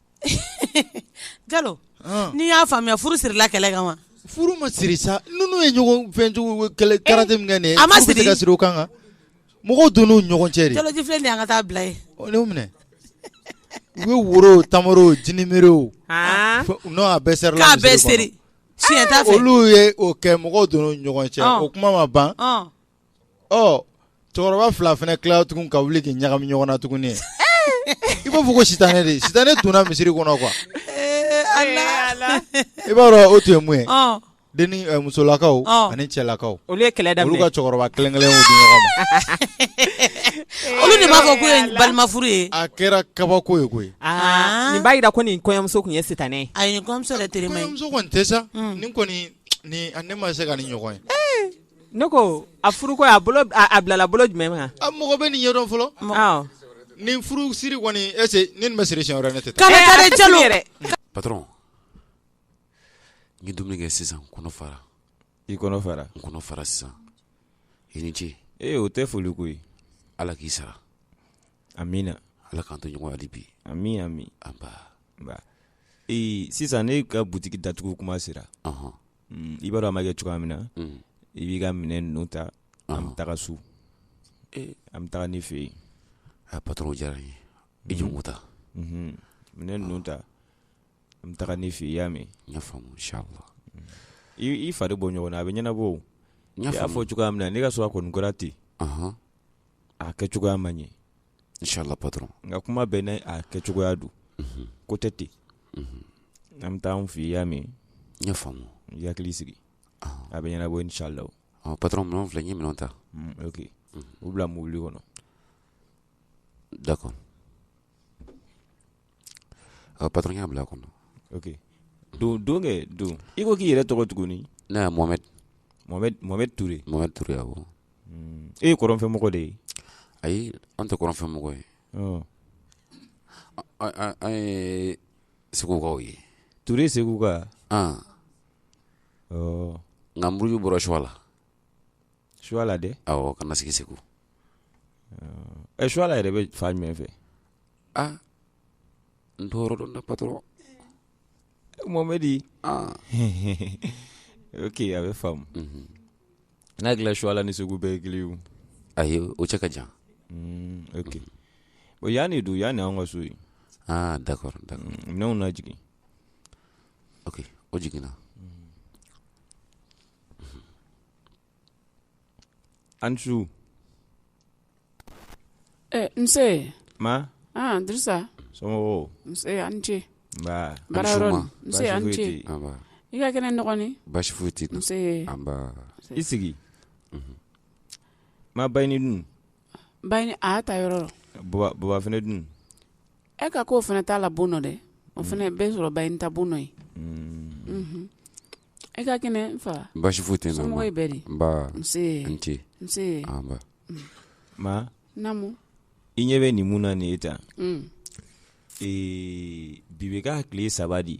jalo n'i y'a faamuya furu sirila kɛlɛ kan wa furu ma siri sa ninnu ye karate min kɛ a ma siri ka siri kan kan mɔgɔw donn'u ɲɔgɔn cɛ jalo ji filɛ de an ka taa bila ye minɛ u bɛ woro tamaro jinibri u n'o a bɛɛ serila bɛ siri si olu ye o kɛ mɔgɔw don ɲɔgɔn cɛ o kuma ma ban ɔ cɛkɔrɔba fila fana tila tuguni ka wuli k'i ɲagami ɲɔgɔn na tuguni i b'a fɔ ko sitanɛ de sitanɛ donna misiri kɔnɔ quoi eh, i b'a dɔn o tun ye mun ye oh. denni eh, musolakaw oh. ani cɛlakaw olu ye kɛlɛ daminɛ olu ka cɛkɔrɔba kelen kelen di ɲɔgɔn ma olu de b'a fɔ k'o ye balima furu ye a kɛra kabako ye koyi ah. nin b'a jira ko nin kɔɲɔmuso tun ye sitanɛ ye ayi nin kɔɲɔmuso yɛrɛ terima ye kɔɲɔmuso kɔni tɛ sa hmm. nin kɔni nin ne ma se ka nin ɲɔgɔn ye eh. Ne ko a furu ko a a bilala bolo jumɛn kan mɔgɔ bɛ nin ɲɛdɔn fɔlɔ nin furu siri kɔni est-ce nin bɛ siri si ne tɛ patɔrɔn n ye dumuni kɛ sisan kɔnɔ fara i kɔnɔ fara n kɔnɔ fara sisan i ni ce ee o tɛ foli ko ye ala k'i sara amiina ala k'an to ɲɔgɔn hali bi ami ami nba ee sisan ne ka butigi datugu kuma sera Mm, i b'a dɔn a ma kɛ cogoya min na mm. i b'i ka minɛn ninnu ta an bɛ taga so eh. an bɛ taga ne fɛ yen a ah, patɔrɔn diyara n ye i jɔ ko ta mhm. minɛn ninnu ta an bɛ taga ne fɛ yen i y'a mɛn n y'a faamu inshallah mm. i fari bɔ ɲɔgɔn na a bɛ ɲɛnabɔ o n y'a fɔ cogoya min na ne ka so a kɔni kɛra ten a kɛ cogoya man ɲi inchallah patron nka kuma bɛɛ n'a a kɛcogoya don mhm. k'o tɛ ten mhm. an bɛ taa an fɛ yen i y'a mɛn n y'a faamu i hakili sigi ah. a bɛ ɲɛnabɔ inchallah ah, patron minɛnw filɛ n ye minɛnw ta mm, ok mhm. u bila mobili kɔnɔ d'accord Ɔ patron n y'a bila a kɔnɔ, ok don don kɛ don i ko k'i yɛrɛ tɔgɔ tuguni, ne ye Mohamɛdi, Mohamɛdi Mohamɛdi Ture, Mohamɛdi Ture awɔ, e ye kɔrɔnfɛmɔgɔ de ye, ayi an tɛ kɔrɔnfɛmɔgɔ ye, ɔ, an ye segukaw ye, Ture seguka, an, ɔ, nka n buruju bɔra Suwala, Suwala dɛ, awɔ ka na sigi Segu, ɔ, Suwala yɛrɛ bɛ fan jumɛn fɛ ah n t'o yɔrɔ dɔn dɛ patɔrɔn mohamɛdi ah ok a bɛ faamu mhm. n hakili la suwala ni segu bɛɛ ye kelen ye ayi o cɛ ka jan mm, ok mhm. bon yan de don yan de anw ka so ye ah d'accord d'accord mm, minɛnw lajigin ok o jiginna An su nse ma Dirisa somɔgɔw an ce an ce i ka kɛnɛ n dɔgɔnin basi foyi tɛ i sigi ma Bayini dun Bayini a y'a ta yɔrɔ baba fana dun e ka ko o fana t'a la bon nɔ dɛ o fana bɛ sɔrɔ Bayini ta bon nɔ ye e ka kɛnɛ n fa basi foyi tɛ yen ma i ɲɛ bɛ nin mun na nin ye tan bi bɛ k'a tile saba de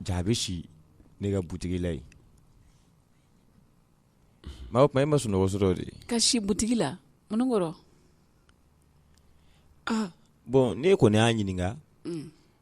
ja a bɛ si ne ka butigi la yen maa o tuma e ma sunɔgɔ sɔrɔ de ka si butigi la mun kɔrɔ aa bɔn ne kɔni y'a ɲininka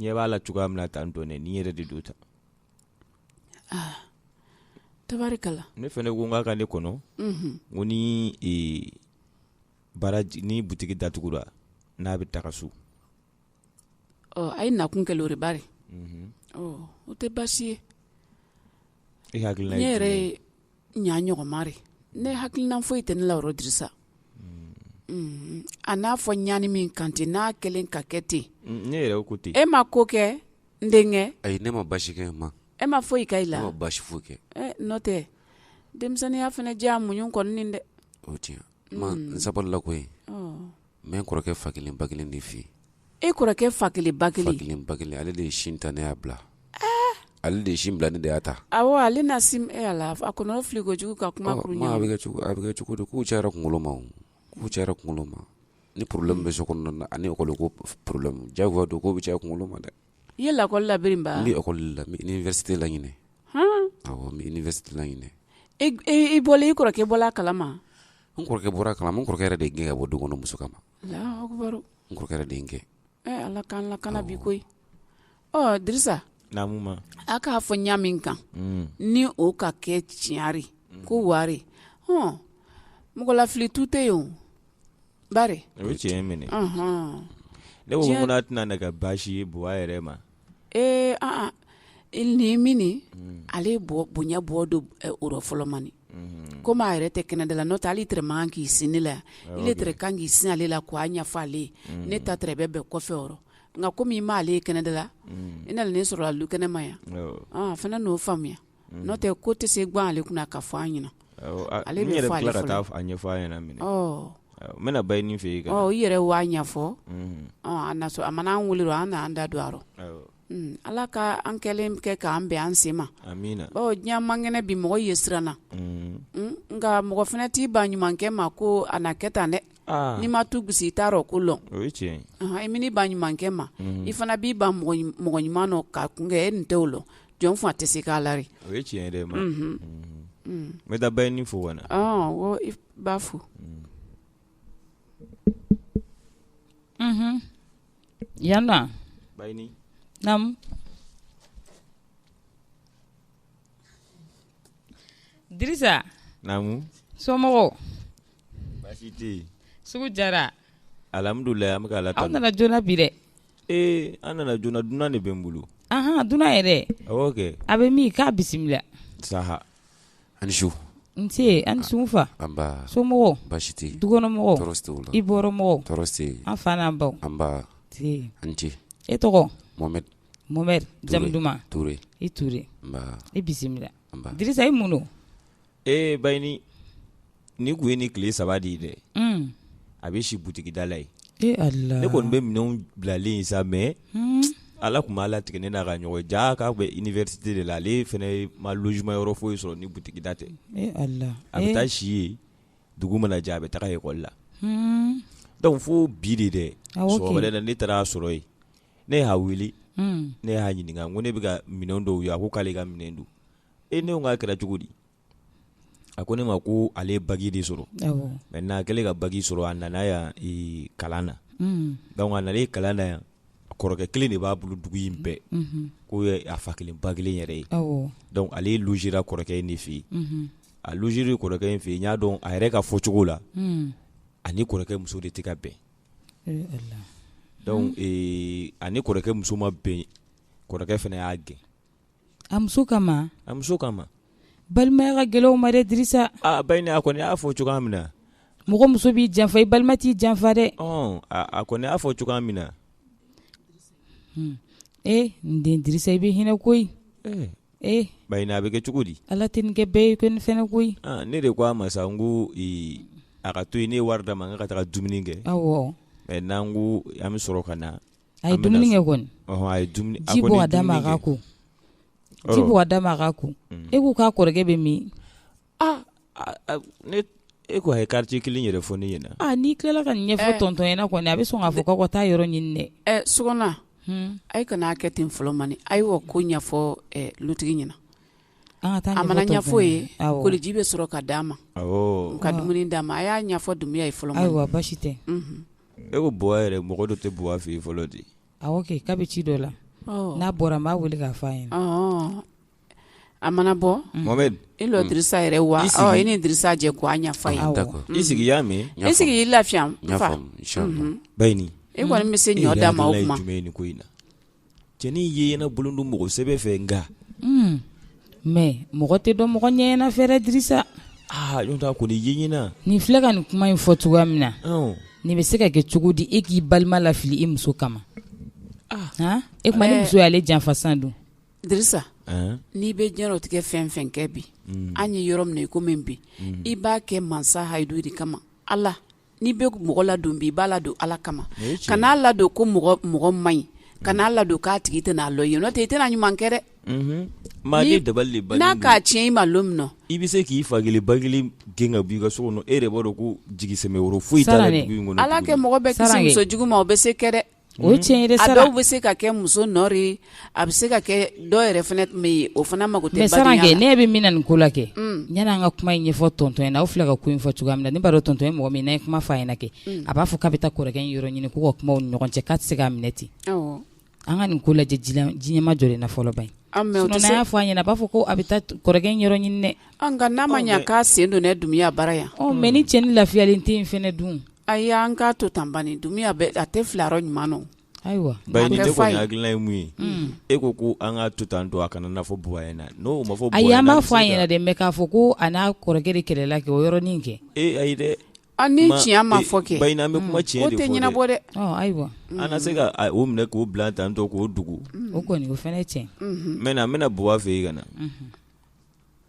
ɲɛ b'a la cogoya min na tan dɔrɔn nin yɛrɛ de don tan tabarikala ne fana ko n k'a ka ne kɔnɔ ko ni ni butigi datugura n'a bɛ taga so a ye nakun kɛ o ri Bari o tɛ baasi ye e hakilina ye ne yɛrɛ ɲa ɲɔgɔnma ri ne hakilina foyi tɛ ne la yɔrɔ Dirisa a n'a fɔ ɲani min kan ten n'a kɛlen ka kɛ ten ne yɛrɛ ko ten e ma ko kɛ n denkɛ ayi ne ma basi kɛ ma e ma foyi kɛ i la ne ma basi foyi kɛ n'o tɛ denmisɛnninya fana diya muɲu kɔni dɛ o tiɲɛ N sabalila koyi n bɛ n kɔrɔkɛ fa kelen ba kelen de fɛ yen e kɔrɔkɛ fa kelen ba kelen fa kelen ba kelen ale de ye sin ta ne y'a bila ale de ye sin bila ne de y'a ta ale na la a kɔnɔ fili kojugu ka kuma a bɛ kɛ cogo di k'u cayara kunkolo ma k'u cayara kunkolo ma ni problème bɛ so kɔnɔ ani école ko problème diyagoya don k'o bɛ caya kunkolo ma dɛ i ye lakɔli labiri ba n bɛ ekɔli la n bɛ université la ɲinɛ awɔ n bɛ université la ɲinɛ i bɔla i kɔrɔkɛ bɔla a kalama n kɔrɔkɛ bɔra a kalama n kɔrɔkɛ yɛrɛ de ye n gɛn ka bɔ du kɔnɔ muso kama Alahu akibaru n kɔrɔkɛ yɛrɛ de ye n gɛn Ala k'an lakana bi koyi ɔ Dirisa naamu ma a k'a fɔ ɲa min kan ni o ka kɛ tiɲa ri ko wari hɔn mɔgɔ lafili tu tɛ yen o Bari o ye tiɲɛ ye mɛnɛ ɔnhɔn ne ko ŋo n'a tɛna na kɛ baasi ye Buwa yɛrɛ ma ee an-an i l nin minni unhun ale ye Buwa bonya bɔ do ɛ o rɔ fɔlɔ mani unhun comme a yɛrɛ tɛ kɛnɛda la n'o tɛ hali i tere man k'i sin ne la yan awɔ kɛ i le tere kan k'i sin ale la k'o a ɲɛfɔ ale ye unhun ne ta tere bɛ bɛn kɔfɛ o rɔ nka comme i m'ale ye kɛnɛda la unhun i nalen ne sɔrɔ a lu kɛnɛma yan awɔ ɔɔn a fɛnɛ n'o faamuya n'o tɛ ko tɛ se gan ale kunna ka fɔ an ɲɛna ale yɛrɛ ɲɛfɔ ɲɛna minɛ n bɛna Bayini fɛ yen i yɛrɛ wa a ɲɛfɔ a mana an wele an n'an da don a rɔ ala ka an kɛlen kɛ k'an bɛ an sen ma diɲɛ man kɛnɛ bi mɔgɔ ye siran na nka mɔgɔ fana t'i ban ɲumankɛ ma ko a na kɛ tan dɛ n'i ma tu gosi i t'a rɔ ko dɔn i man'i ban ɲumankɛ ma i fana b'i ban mɔgɔ ɲuman ka kɛ e nin tɛ o la jɔn fa tɛ se k'a la o ye tiɲɛ yɛrɛ ma n taa Bayini fo wa i b'a fo yan Bayini naamu Dirisa naamu somɔgɔw baasi tɛ yen sugu jara alhamdulilayi an bɛ ala aw nana joona bi dɛ Ee an nana joona dunan de bɛ n bolo ahan dunan yɛrɛ awɔ kɛ a bɛ min k'a bisimila saha a' ni su nsee a' ni su n fa anbaa somɔgɔw baasi tɛ yen dukɔnɔmɔgɔw tɔɔrɔ si t'u la i bɔyɔrɔmɔgɔw tɔɔrɔ si tɛ yen an fa n'an baw anbaa nsee a' ni ce e tɔgɔ Mohamed Mohamed jamu duman Toure i Toure anbaa i bisimila anba Dirisa i mun don Ee Bayini nin tun ye nin tile saba de ye dɛ a bɛ si butigida la yen ne kɔni bɛ minɛn bilalen sa mɛ ala tun m'a latigɛ ne n'a ka ɲɔgɔn ye k'a bɛ université de la ale fana ma logement yɔrɔ foyi sɔrɔ ni butigida tɛ a bɛ taa si yen dugu mana jɛ a bɛ taa lekɔli la dɔnku fo bi de dɛ wɛrɛ la ne taar'a sɔrɔ yen ne y'a wuli ne y'a ɲininka ko ne bɛka minɛn dɔw ye a ko k'ale ka minɛn don e ne ko k'a kɛra cogo di a ko ne ma ko ale baki de sɔrɔ maintenant a kɛlen ka baki sɔrɔ a nana yan kalan na dɔnku a nana kalan na yan kɔrɔkɛ kelen de b'a bolo dugu in bɛɛ k'o ye a fa kelen ba kelen yɛrɛ ye dɔnku ale sira kɔrɔkɛ in de fɛ yen a sira kɔrɔkɛ in fɛ yen y'a dɔn a yɛrɛ ka fɔcogo la a ni kɔrɔkɛ muso de tɛ ka bɛn dɔnku a ni kɔrɔkɛ muso ma bɛn kɔrɔkɛ fana y'a gɛn a muso kama a muso kama balimaya ka gɛlɛn o ma dɛ Dirisa Bayini a kɔni y'a fɔ cogoya min na mɔgɔ muso b'i janfa i balima t'i janfa dɛ a kɔni y'a fɔ cogoya min na e n den Dirisa i bɛ hinɛ koyi Bayini a bɛ kɛ cogo di ala tɛ kɛ bɛɛ ko ne fana koyi ne de ko a ma sa n ko a ka to yen ne ye wari d'a ma n k'a ka taa dumuni kɛ maintenant n ko an bɛ sɔrɔ ka na A ye dumuni kɛ kɔni a ye ji bɔ ka d'a ma a ka ko ji bɔ ka d'a ma a ka ko e k'u ka kɔrɔkɛ bɛ min aa e ko a ye kariti kelen yɛrɛ fɔ ne ɲɛna n'i tilala ka nin ɲɛfɔ tɔntɔn ɲɛna kɔni a bɛ sɔn k'a fɔ k'aw ka taa yɔrɔ ɲini dɛ ɛ so a kan'a kɛ ten fɔlɔ bani a ye wa ko ɲɛfɔ dutigi ɲɛna an taa mana ɲɛfɔ ye koliji bɛ sɔrɔ ka d'a ma ka dumuni d'a ma a y'a ɲɛfɔ Dunbiya ye fɔlɔ ayiwa baasi tɛ E ko buwa yɛrɛ mɔgɔ dɔ tɛ buwa fɛ yen fɔlɔ de awɔ kɛ k'a bɛ ci dɔ la n'a bɔra n b'a weele k'a fɔ a ye a mana bɔ i lɔ dirisa yɛrɛ wa e ni dirisa jɛ ko an fa i sigi y'a mɛn e sigi i lafiya Baɲini e kɔni bɛ se ɲɔ da ma o kuma jumɛn ni ko in na cɛnin ye ɲɛna bolo don mɔgɔ sɛbɛ fɛ nka hmm. mɛ mɔgɔ tɛ dɔn mɔgɔ ɲɛɲɛna fɛrɛ dirisa ɲɔgɔn tɛ a kɔni ye ɲɛna nin filɛ ka nin kuma in fɔ cogoya min na nin bɛ se ka kɛ cogo di e k'i balima lafili i muso kama ah. e kuma ni muso y'ale janfa san dun dirisa n'i bɛ diɲɛlatigɛ fɛn fɛn kɛ bi hmm. an ye yɔrɔ min na i ko min bi hmm. i b'a kɛ mansa hayidu de kama ala n'i bɛ mɔgɔ ladon bi i b'a ladon ala kama kan'a ladon ko mɔgɔ man ɲi kan'a ladon k'a tigi tɛna lɔ i ye n'o tɛ i tɛna ɲuman kɛ dɛ maa ye abada n'a k'a tiɲɛ i ma lon min na i bɛ se k'i fa kelen ba kelen gɛn ka bɔ i ka so kɔnɔ e yɛrɛ b'a dɔn ko jigisɛmɛyɔrɔ foyi t'a la ala ka mɔgɔ bɛɛ kisi muso jugu ma o bɛ se kɛ dɛ O tiɲɛ yɛrɛ sara, a dɔw bɛ se ka kɛ muso nɔ de ye, a bɛ se ka kɛ dɔ yɛrɛ fana tun bɛ yen o fana mako tɛ badenya la, mais Sanarage ne ɲɛ bɛ min na nin ko la kɛ, un, yani an ka kuma in ɲɛfɔ tonton ɲɛna, aw filɛ ka ko in fɔ cogoya min na ne b'a dɔn tonton ye mɔgɔ min ye n'a ye kuma fɔ a ɲɛna kɛ, un, a b'a fɔ k'a bɛ taa kɔrɔkɛ in yɔrɔ ɲini k'u ka kuma u ni ɲɔgɔn cɛ k'a tɛ se k'a minɛ ten, awɔ, an ka nin ko lajɛ ji ɲɛmajɔlen na fɔlɔ bani, a mais o tɛ se, sinon n'a y'a fɔ a ɲɛna a b'a fɔ ko a bɛ taa kɔrɔkɛ in yɔrɔ ɲini dɛ, ɔ nka n'a ma ɲɛ k'a sen donna Dunbiya bara yan, ɔ mais ni cɛnin lafiyalen tɛ yen fana dun Ayi an k'a to tan bani Dunbiya bɛ a tɛ fila yɔrɔ ɲuman na, ayiwa, Baɲini ne kɔni hakilina ye min ye, un, e ko ko an k'a to tan tɔ a kana na fɔ buwa ɲɛna, n'o ma fɔ buwa ɲɛna, ayi an b'a fɔ a ɲɛna dɛ mais k'a fɔ ko a n'a kɔrɔkɛ de kɛlɛla kɛ o yɔrɔnin in kɛ, ee ayi dɛ, a ni tiɲɛ ma fɔ kɛ, Baɲini an bɛ kuma tiɲɛ de fɔ dɛ, ko tɛ ɲɛnabɔ dɛ, ɔ ayiwa, an na se ka o minɛ k'o bila tan tɔ k'o dogo, o kɔni o fana ye tiɲɛ ye, unhun, n bɛna buwa fɛ yen ka na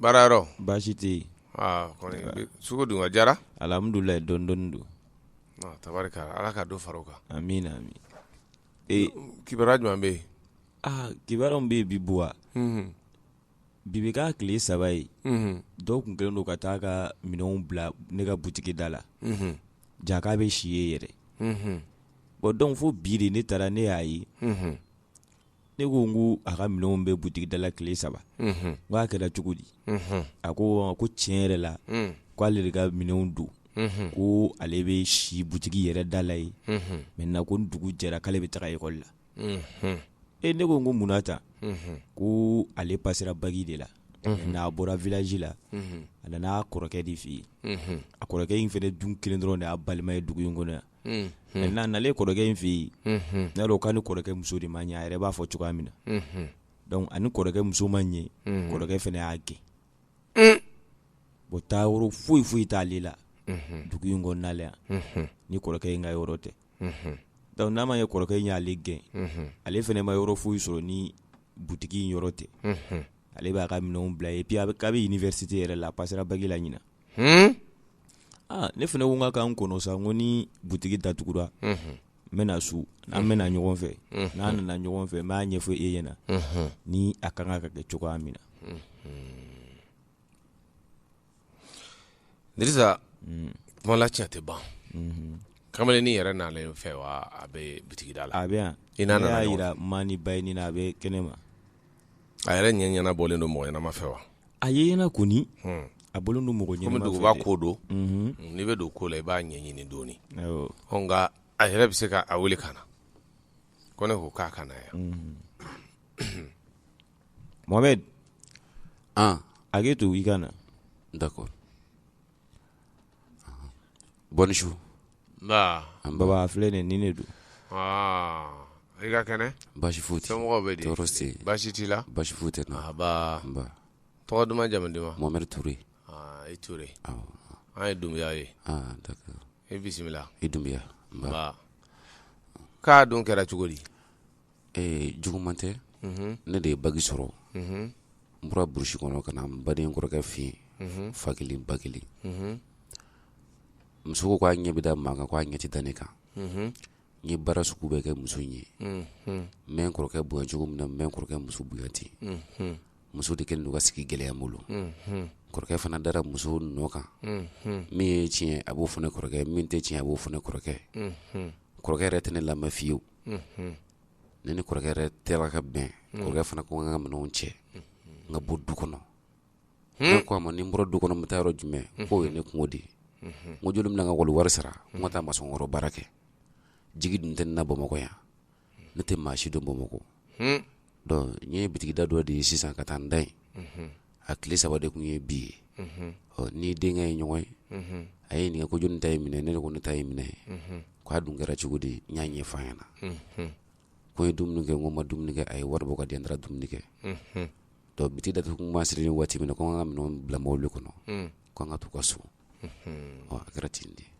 baara yɔrɔ baasi tɛ yen aa kɔni bi- sugu dun a diyara alihamudulila dɔɔni dɔɔni don Ah, tabarikala ala ka dɔ fara o kan amiina ami ee kibaruya jumɛn bɛ yen aa kibaruyaw bɛ yen bi buwa Mhm, bi bɛ k'a tile saba ye mhm, dɔw tun kɛlen don ka taa ka minɛnw bila ne ka butigi da la mhm, jaa k'a bɛ si yen yɛrɛ mhm, bɔn dɔnku fo bi de ne taara ne y'a ye mhm. ne ko n ko a ka minɛnw bɛ butigi dala tile saba n k'a kɛra cogo di a ko ko tiɲɛ yɛrɛ la k' ale de ka minɛnw don ko ale bɛ si butigi yɛrɛ dala yen maintenant ko ni dugu jɛra k'ale bɛ taa ekɔli la e ne ko n ko munna ta ko ale pasera baki de la n'a bɔra village la a nana a kɔrɔkɛ de fɛ yen a kɔrɔkɛ in fana dun kelen dɔrɔn de y'a balima ye dugu in kɔnɔ yan nalen kɔrɔkɛ in fɛ yen n y'a dɔn k'a ni kɔrɔkɛ muso de ma ɲɛ a yɛrɛ b'a fɔ cogoya min na ani kɔrɔkɛ muso ma ɲɛ kɔrɔkɛ fana y'a gɛn bɔn taa yɔrɔ foyi foyi t'ale la dugu in kɔnɔ yan ni kɔrɔkɛ in ka yɔrɔ tɛ donc n'a ma ye kɔrɔkɛ in y'ale gɛn ale fana ma yɔrɔ foyi sɔrɔ ni butigi in yɔrɔ tɛ ale b'a ka minɛnw bila yen a bɛ université yɛrɛ la a pasera baki la ɲin ne fana ko n k'a ka n kɔnɔ sa n ko ni butigi da tugura n bɛna su an bɛna ɲɔgɔn fɛ n'an nana ɲɔgɔn fɛ n b'a ɲɛfɔ e ɲɛna ni a kan ka kɛ cogoya min na kuma la tiɲɛ tɛ ban kamalen ni yɛrɛ nana i fɛ wa a bɛ butigi da la a bɛ i jira maa ni ba ɲini a bɛ kɛnɛ ma a yɛrɛ ɲɛna a bɔlen don mɔgɔ ɲɛnama fɛ wa A ne ɲɛna kɔni a bɔlen don mɔgɔ ɲɛnama fɛ komi duguba ko don n'i bɛ don ko la i b'a ɲɛɲini dɔɔni nka a yɛrɛ bɛ se k'a weele ka na ko ne ko k'a ka na yan Mohamed hakɛ to i ka na d'accord Bonsoir baba filɛ nin ni ne don i ka kɛnɛ basi foyi tɛ somɔgɔw bɛ di basi t'u la basi foyi tɛ tɔgɔ duman jamu duman Mohamed Ture i Ture an ye Dunbuya ye i bisimila i Dunbuya k'a dun kɛra cogo di Ee juguman tɛ ne de ye baki sɔrɔ n bɔra burusi kɔnɔ ka na n baden kɔrɔkɛ fɛ yen fa kelen ba kelen muso k'a ɲɛ bɛ da maa kan k' a ɲɛ tɛ da ne kan n ye baara sugu bɛɛ kɛ muso in ye n bɛ n kɔrɔkɛ bonya cogo min na n bɛ n kɔrɔkɛ muso bonya ten muso de kɛlen ka sigi gɛlɛya n bolo kɔrɔkɛ fana dara muso nɔ kan min ye tiɲɛ a b'o fɔ ne kɔrɔkɛ min tɛ tiɲɛ a b'o fɔ ne kɔrɔkɛ kɔrɔkɛ yɛrɛ tɛ ne lamɛn fiyewu ne ni kɔrɔkɛ yɛrɛ tɛra ka bɛn kɔrɔkɛ fana ko n ka minɛnw cɛ n ka bɔ du kɔnɔ ne ko a ma ni n bɔra du kɔnɔ n bɛ taa yɔrɔ jumɛn k'o ye ne kunko de ye n ko joli bɛ n na n ka wali wari sara n ka taa masɔn kɔrɔ baara kɛ jigi dun tɛ ne na bamakɔ yan ne tɛ maa si dɔn bamakɔ Donc n ye bitigida dɔ de ye sisan ka taa n da yen a tile saba de tun ye bi ye ɔ ni denkɛ ye ɲɔgɔn ye a ye n ɲininka ko jɔnni ta ye minɛn ye ne ko ne ta ye minɛn ye k'a dun kɛra cogo di n y'a ɲɛfɔ a ɲɛna ko n ye dumuni kɛ n ko n ma dumuni kɛ a ye wari bɔ k'a di n taara dumuni kɛ donc bitigi datugu tuma sera waati min na ko n ka minɛnw bila mobili kɔnɔ k'an ka taa u ka so ɔ a kɛra ten de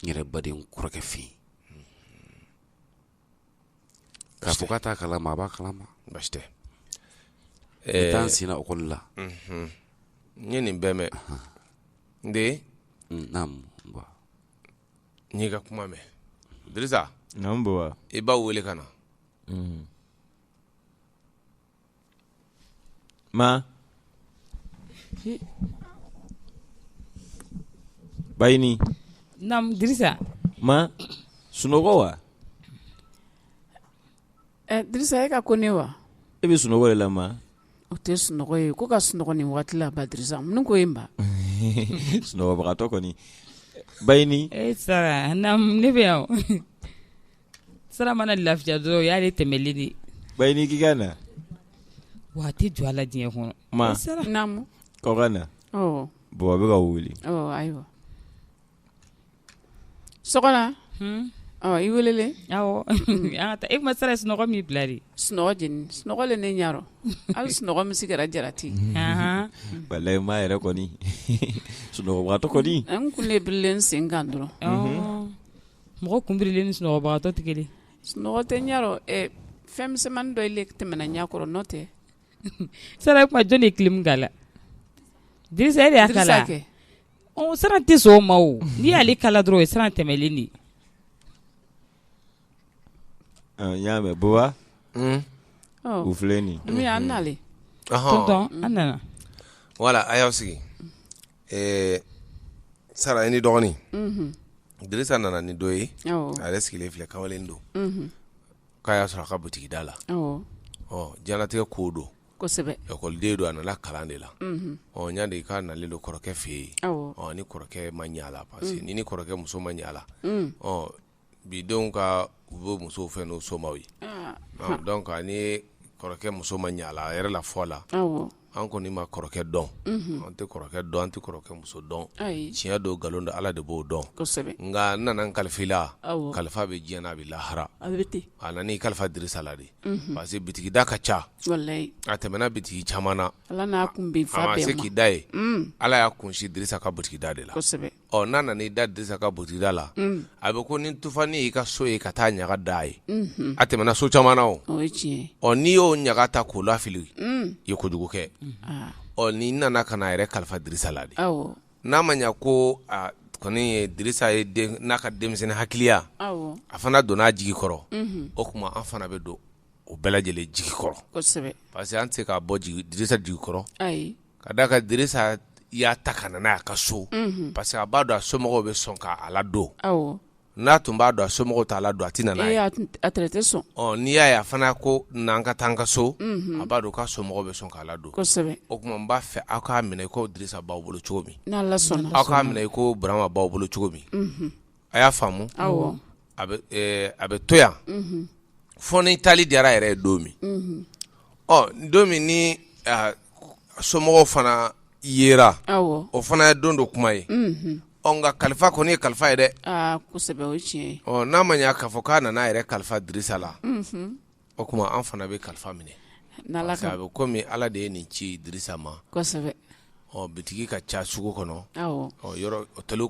n yɛrɛ baden kɔrɔkɛ fɛ yen k'a fɔ k'a t'a kalama a b'a kalama baasi tɛ n taa n senna ekɔli la n ye nin bɛɛ mɛn n den naamu ba n y'i ka kuma mɛn Dirisa naamu baba i baw wele ka na Ma? Bayini. Naam Dirisa. Ma sunɔgɔ wa? Ɛ eh, Dirisa e ka ko ne wa? E bɛ sunɔgɔ de la ma? O tɛ sunɔgɔ ye ko ka sunɔgɔ nin waati la ba Dirisa mun ko ye n ba? sunɔgɔbagatɔ kɔni. Bayini. E eh, Sara naam ne bɛ yan o. Sara mana lafiya dɔrɔn o y'ale tɛmɛli de ye Bayini k'i ka na wa a tɛ jɔ a la diɲɛ kɔnɔ ma naamu k'aw ka na ɔ baba bɛ k'aw wele ɔ ayiwa sunɔgɔla hun ɔ i welelen awɔ an ka taa e tuma sara sunɔgɔ m'i bila dɛ sunɔgɔ jeni sunɔgɔ le ne ɲarɔ hali sunɔgɔ min si kɛra jarati ahan walayi ma yɛrɛ kɔni sunɔgɔbagatɔ kɔni n kun le birilen n sen kan dɔrɔn ɔɔ Mɔgɔ kunbirilen ni sunɔgɔbagatɔ tɛ kelen ye, sunɔgɔ tɛ n ɲarɔ ɛ fɛn misɛnmani dɔ le tɛmɛna n ɲa kɔrɔ n'o tɛ, sara o tuma jɔn de ye clim kala, Dirisa e de y'a kala wa, Dirisa kɛ, ɔ sara tɛ sɔn o ma o, n'i y'ale kala dɔrɔn o ye sara tɛmɛlen de ye, ɔ n y'a mɛn Baba, un, u filɛ nin ye, Dunbiya an nalen, ɔhɔ, tonton an nana, voila a y'aw sigi ɛɛ sara i n'i dɔgɔnin unhun dirisa nana ni dɔ ye awɔ a yɛrɛ sigilen filɛ kamalen don unhun k'a y'a sɔrɔ a ka butigi da la awɔ ɔ diɲɛlatigɛ ko don kosɛbɛ ekɔliden don a nana kalan de la unhun ɔ n y'a de k'a nalen don kɔrɔkɛ fɛ yen awɔ a ni kɔrɔkɛ ma ɲɛ a la parce que ni ni kɔrɔkɛ muso ma ɲɛ a la un ɔ bi denw ka u bɛ musow fɛ n'u somaw ye donc a ni kɔrɔkɛ muso ma ɲa a la a yɛrɛ la fɔ la an kɔni ma kɔrɔkɛ dɔn an tɛ kɔrɔkɛ dɔn an tɛ kɔrɔkɛ muso dɔn tiɲɛ don nkalon don ala de b'o dɔn nka n nana n kalifa i la kalifa bɛ diɲɛ na a bɛ lahara a nana i kalifa dirisa la de parce que bitigida ka ca a tɛmɛna bitigi caman na a ma se k'i da yen ala y'a kunsin dirisa ka butigida de la ɔ n'a nana i da dirisa ka butigida la a bɛ ko ni tufanin y'i ka so ye ka taa ɲaga da a ye a tɛmɛna so caman na o ɔ n'i y'o ɲaga ta k'o lafili i ye kojugu kɛ ɔ nin nana ka na a yɛrɛ kalifa dirisa la de n'a ma ɲɛ ko kɔni ye dirisa ye n'a ka denmisɛnnin hakiliya a fana donna a jigi kɔrɔ o kuma an fana bɛ don o bɛɛ lajɛlen jigi kɔrɔ parce que an tɛ se k'a bɔ dirisa jigi kɔrɔ ka da a kan dirisa y'a ta ka na n'a y'a ka so parce que a b'a dɔn a somɔgɔw bɛ sɔn k'a ladon n'a tun b'a dɔn a somɔgɔw t'a ladon a tɛ na n'a ye n'i y'a ye a fana ko na an ka taa an ka so a b'a dɔn k'a somɔgɔw bɛ sɔn k'a ladon o kuma n b'a fɛ aw k'a minɛ i ko dirisa b'aw bolo cogo min aw k'a minɛ i ko burama b'aw bolo cogo min a y'a faamu a bɛ to yan fo ni taali diyara a yɛrɛ ye don min ɔ don min ni somɔgɔw fana yera o fana ye don dɔ kuma ye nka kalifa kɔni ye kalifa ye dɛ n'a ma ɲɛ k'a fɔ k'a nana a yɛrɛ kalifa dirisa la o kuma an fana bɛ kalifa minɛ a bɛ kɔmi ala de ye nin ci dirisa ma bitigi ka ca sugu kɔnɔ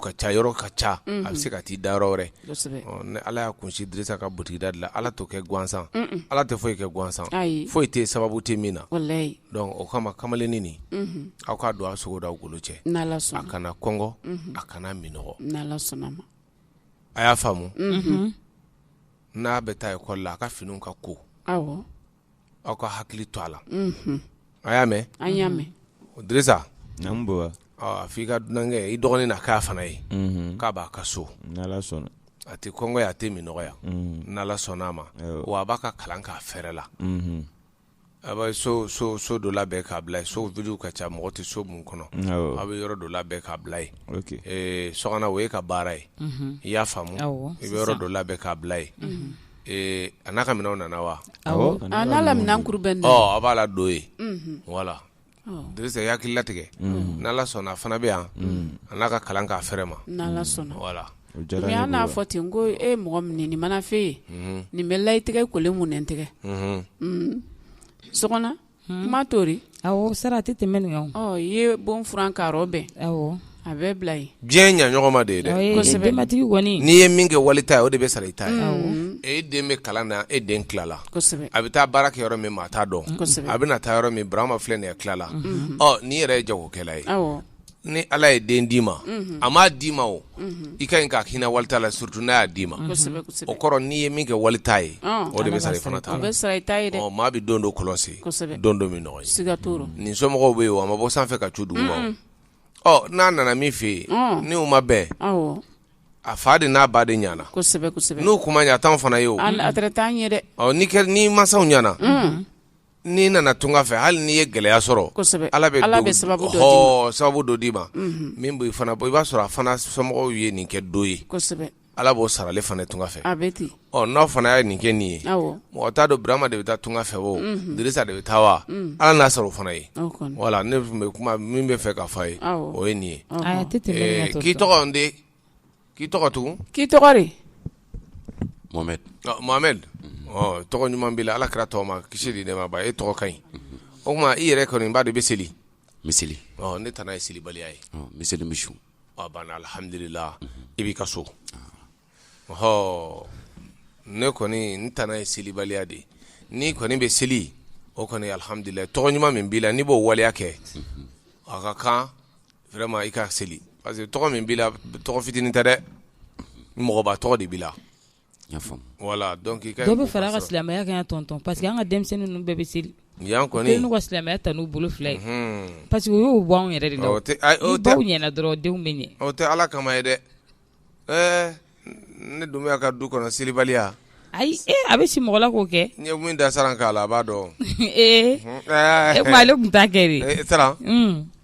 ka ca yɔrɔ ka ca a bɛ se ka taa i da yɔrɔ wɛrɛ ni ala y'a kunsin dirisa ka butigida de la ala t'o kɛ gansan ala tɛ foyi kɛ gansan foyi tɛ sababu tɛ min na o kama kamalennin nin aw k'a don aw sogo n'aw golo cɛ a kana kɔngɔ a kana minɔgɔ a y'a faamu n'a bɛ taa ekɔli la a ka finiw ka ko aw ka hakili to a la a y'a mɛn dirisa a f'i ka dunankɛ i dɔgɔnin na k'a fana ye k'a b'a ka so a tɛ kɔngɔ yan a tɛ minɔgɔ yan n'ala sɔnna a ma wa a b'a ka kalan k'a fɛrɛ la A bɛ so so so dɔ labɛn k'a bila yen so vide ka ca mɔgɔ tɛ so minnu kɔnɔ a bɛ yɔrɔ dɔ labɛn k'a bila yen so kɔnɔ o y'e ka baara ye i y'a faamu i bɛ yɔrɔ dɔ labɛn k'a bila yen a n'a ka minɛnw nana wa n'a la minɛn kuru bɛɛ a b'a ladon yen voilà dirisa i hakili latigɛ n'ala sɔnna a fana bɛ yan a n'a ka kalan k'a fɛrɛ ma n'ala sɔnna voilà mais an n'a fɔ ten ko e mɔgɔ min ni mana fɛ ye nin bɛ layi tigɛ kolen mun n tɛgɛ sɔgɔna kuma t'o rɔ awɔ sara a tɛ tɛmɛ nin kan i ye bon furan k'a yɔrɔ bɛn A bɛ bila yen diɲɛ ye ɲɔgɔn ma de ye dɛ Ɔ ee kosɛbɛ denbatigi kɔni n'i ye min kɛ wali ta ye o de bɛ sara i ta ye awɔ e den bɛ kalan na e den tilala kosɛbɛ a bɛ taa baara kɛ yɔrɔ min maa t'a dɔn Kosɛbɛ. a bɛna taa yɔrɔ min Burama filɛ nin ye a tilala ɔ n'i yɛrɛ ye jagokɛla ye awɔ ni Ala ye den d'i ma a m'a d'i ma o i ka ɲi ka hinɛ wali ta la surtout n'a y'a d'i ma kosɛbɛ o kosɛbɛ kɔrɔ n'i ye min kɛ wali ta ye Ɔn. o de bɛ sara i fana ta o la bɛ sara i ta ye dɛ ɔ maa bɛ don dɔ kɔlɔn sen Kosɛbɛ. don dɔ minɔgɔ ye siga t'o rɔ nin somɔgɔw bɛ yen wa a ma bɔ sanfɛ ka cu duguma o. ɔ n'a nana min fɛ yen Ɔn. ni u ma bɛn awɔ a fa de n'a ba de ɲana kosɛbɛ kosɛbɛ n'u kuma ɲa t'anw fana ye o Al- a tɛrɛ t'an ye dɛ ɔ ni kɛ ni masaw ɲana n'i nana tunga fɛ hali n'i ye gɛlɛya sɔrɔ Kosɛbɛ. ala bɛ Ala don- bɛ sababu dɔ d'i ma. hɔɔ, sababu dɔ d'i ma min b'i fana bɔ i b'a sɔrɔ a fana somɔgɔw ye nin kɛ dɔ ye kosɛbɛ Ala b'o sara ale fana tunga fɛ n'aw fana ye nin kɛ nin ye mɔgɔ t'a dɔn burama de bɛ taa tunga fɛ o Dirisa de bɛ taa wa ala n'a sara o fana ye wala ne kuma min bɛ fɛ ka fɔ i ye o ye nin ye k'i tɔgɔ k'i tɔgɔ tugun k'i tɔgɔ tɔgɔ ɲuman b'i la ala kira tɔgɔma kisi de ne e tɔgɔ ka ɲi o tuma i yɛrɛ kɔni b'a dɔn i bɛ seli n bɛ seli ne tana ye selibaliya ye n bɛ seli n bɛ seli a banna alihamdulila i b'i ka so ɔ ne kɔni n tana ye selibaliya de ye n'i kɔni bɛ seli o kɔni alihamdulila tɔgɔ ɲuman min b'i la n'i b'o waleya kɛ a ka kan vraiment i ka seli parce que tɔgɔ min b'i la tɔgɔ fitinin tɛ dɛ mɔgɔba tɔgɔ de b'i la voilà donc i ka dɔ bɛ fara an ka silamɛya kan yan tonton parce que an ka denmisɛnnin ninnu bɛɛ bɛ seli yan kɔni u kɛlen don ka silamɛya ta n'u bolo fila ye parce que u y'u bɔ anw yɛrɛ de la o tɛ ayi o tɛ ni baw ɲɛna dɔrɔn denw bɛ ɲɛ o tɛ Ala kama ye dɛ ɛɛ ne Dunbiya ka du kɔnɔ selibaliya ayi e a bɛ si mɔgɔ la k'o kɛ n ye min da Saran kan Ala b'a dɔn ee o tuma ale tun t'a kɛ de e Tara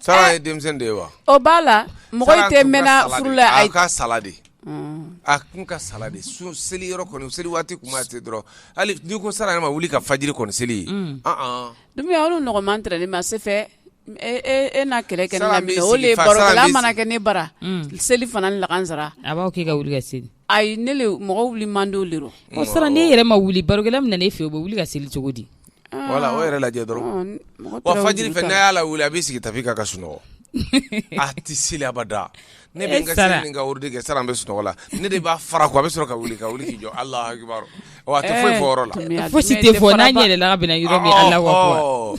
Saran ye denmisɛn de ye wa o b'a la mɔgɔ tɛ mɛnna furu la a ka sala de a kun ka sala de seli yɔrɔ kɔni seli waati kuma tɛ dɔrɔn hali n'i ko Saran ma wuli ka fajiri kɔni seli e Dunbiya olu nɔgɔman tɛrɛ ne ma se fɛ e na kɛlɛ kɛ ne la min o le barokɛla mana kɛ ne bara selifana lagansara a b'a k'i ka wuli ka seli Ayi ne le mɔgɔ wuli man di de o Saran n'e yɛrɛ ma wuli barokɛla min na e fɛ o bɛ wuli ka seli cogo di wala o yɛrɛ lajɛ dɔrɔn fajiri fɛ ne y'a lawuli a b'i sigi tapi kan ka sunɔgɔ a tɛ seli abada ne bɛ n ka seli ni ka wurudi kɛ Saran bɛ sunɔgɔ la ne de b'a fara ko a bɛ sɔrɔ ka wuli ka wuli k'i jɔ Alahu akibaru a tɛ foyi fɔ yɔrɔ la fosi tɛ fɔ n'a yɛlɛla ka bɛn a yɔrɔ min Alahu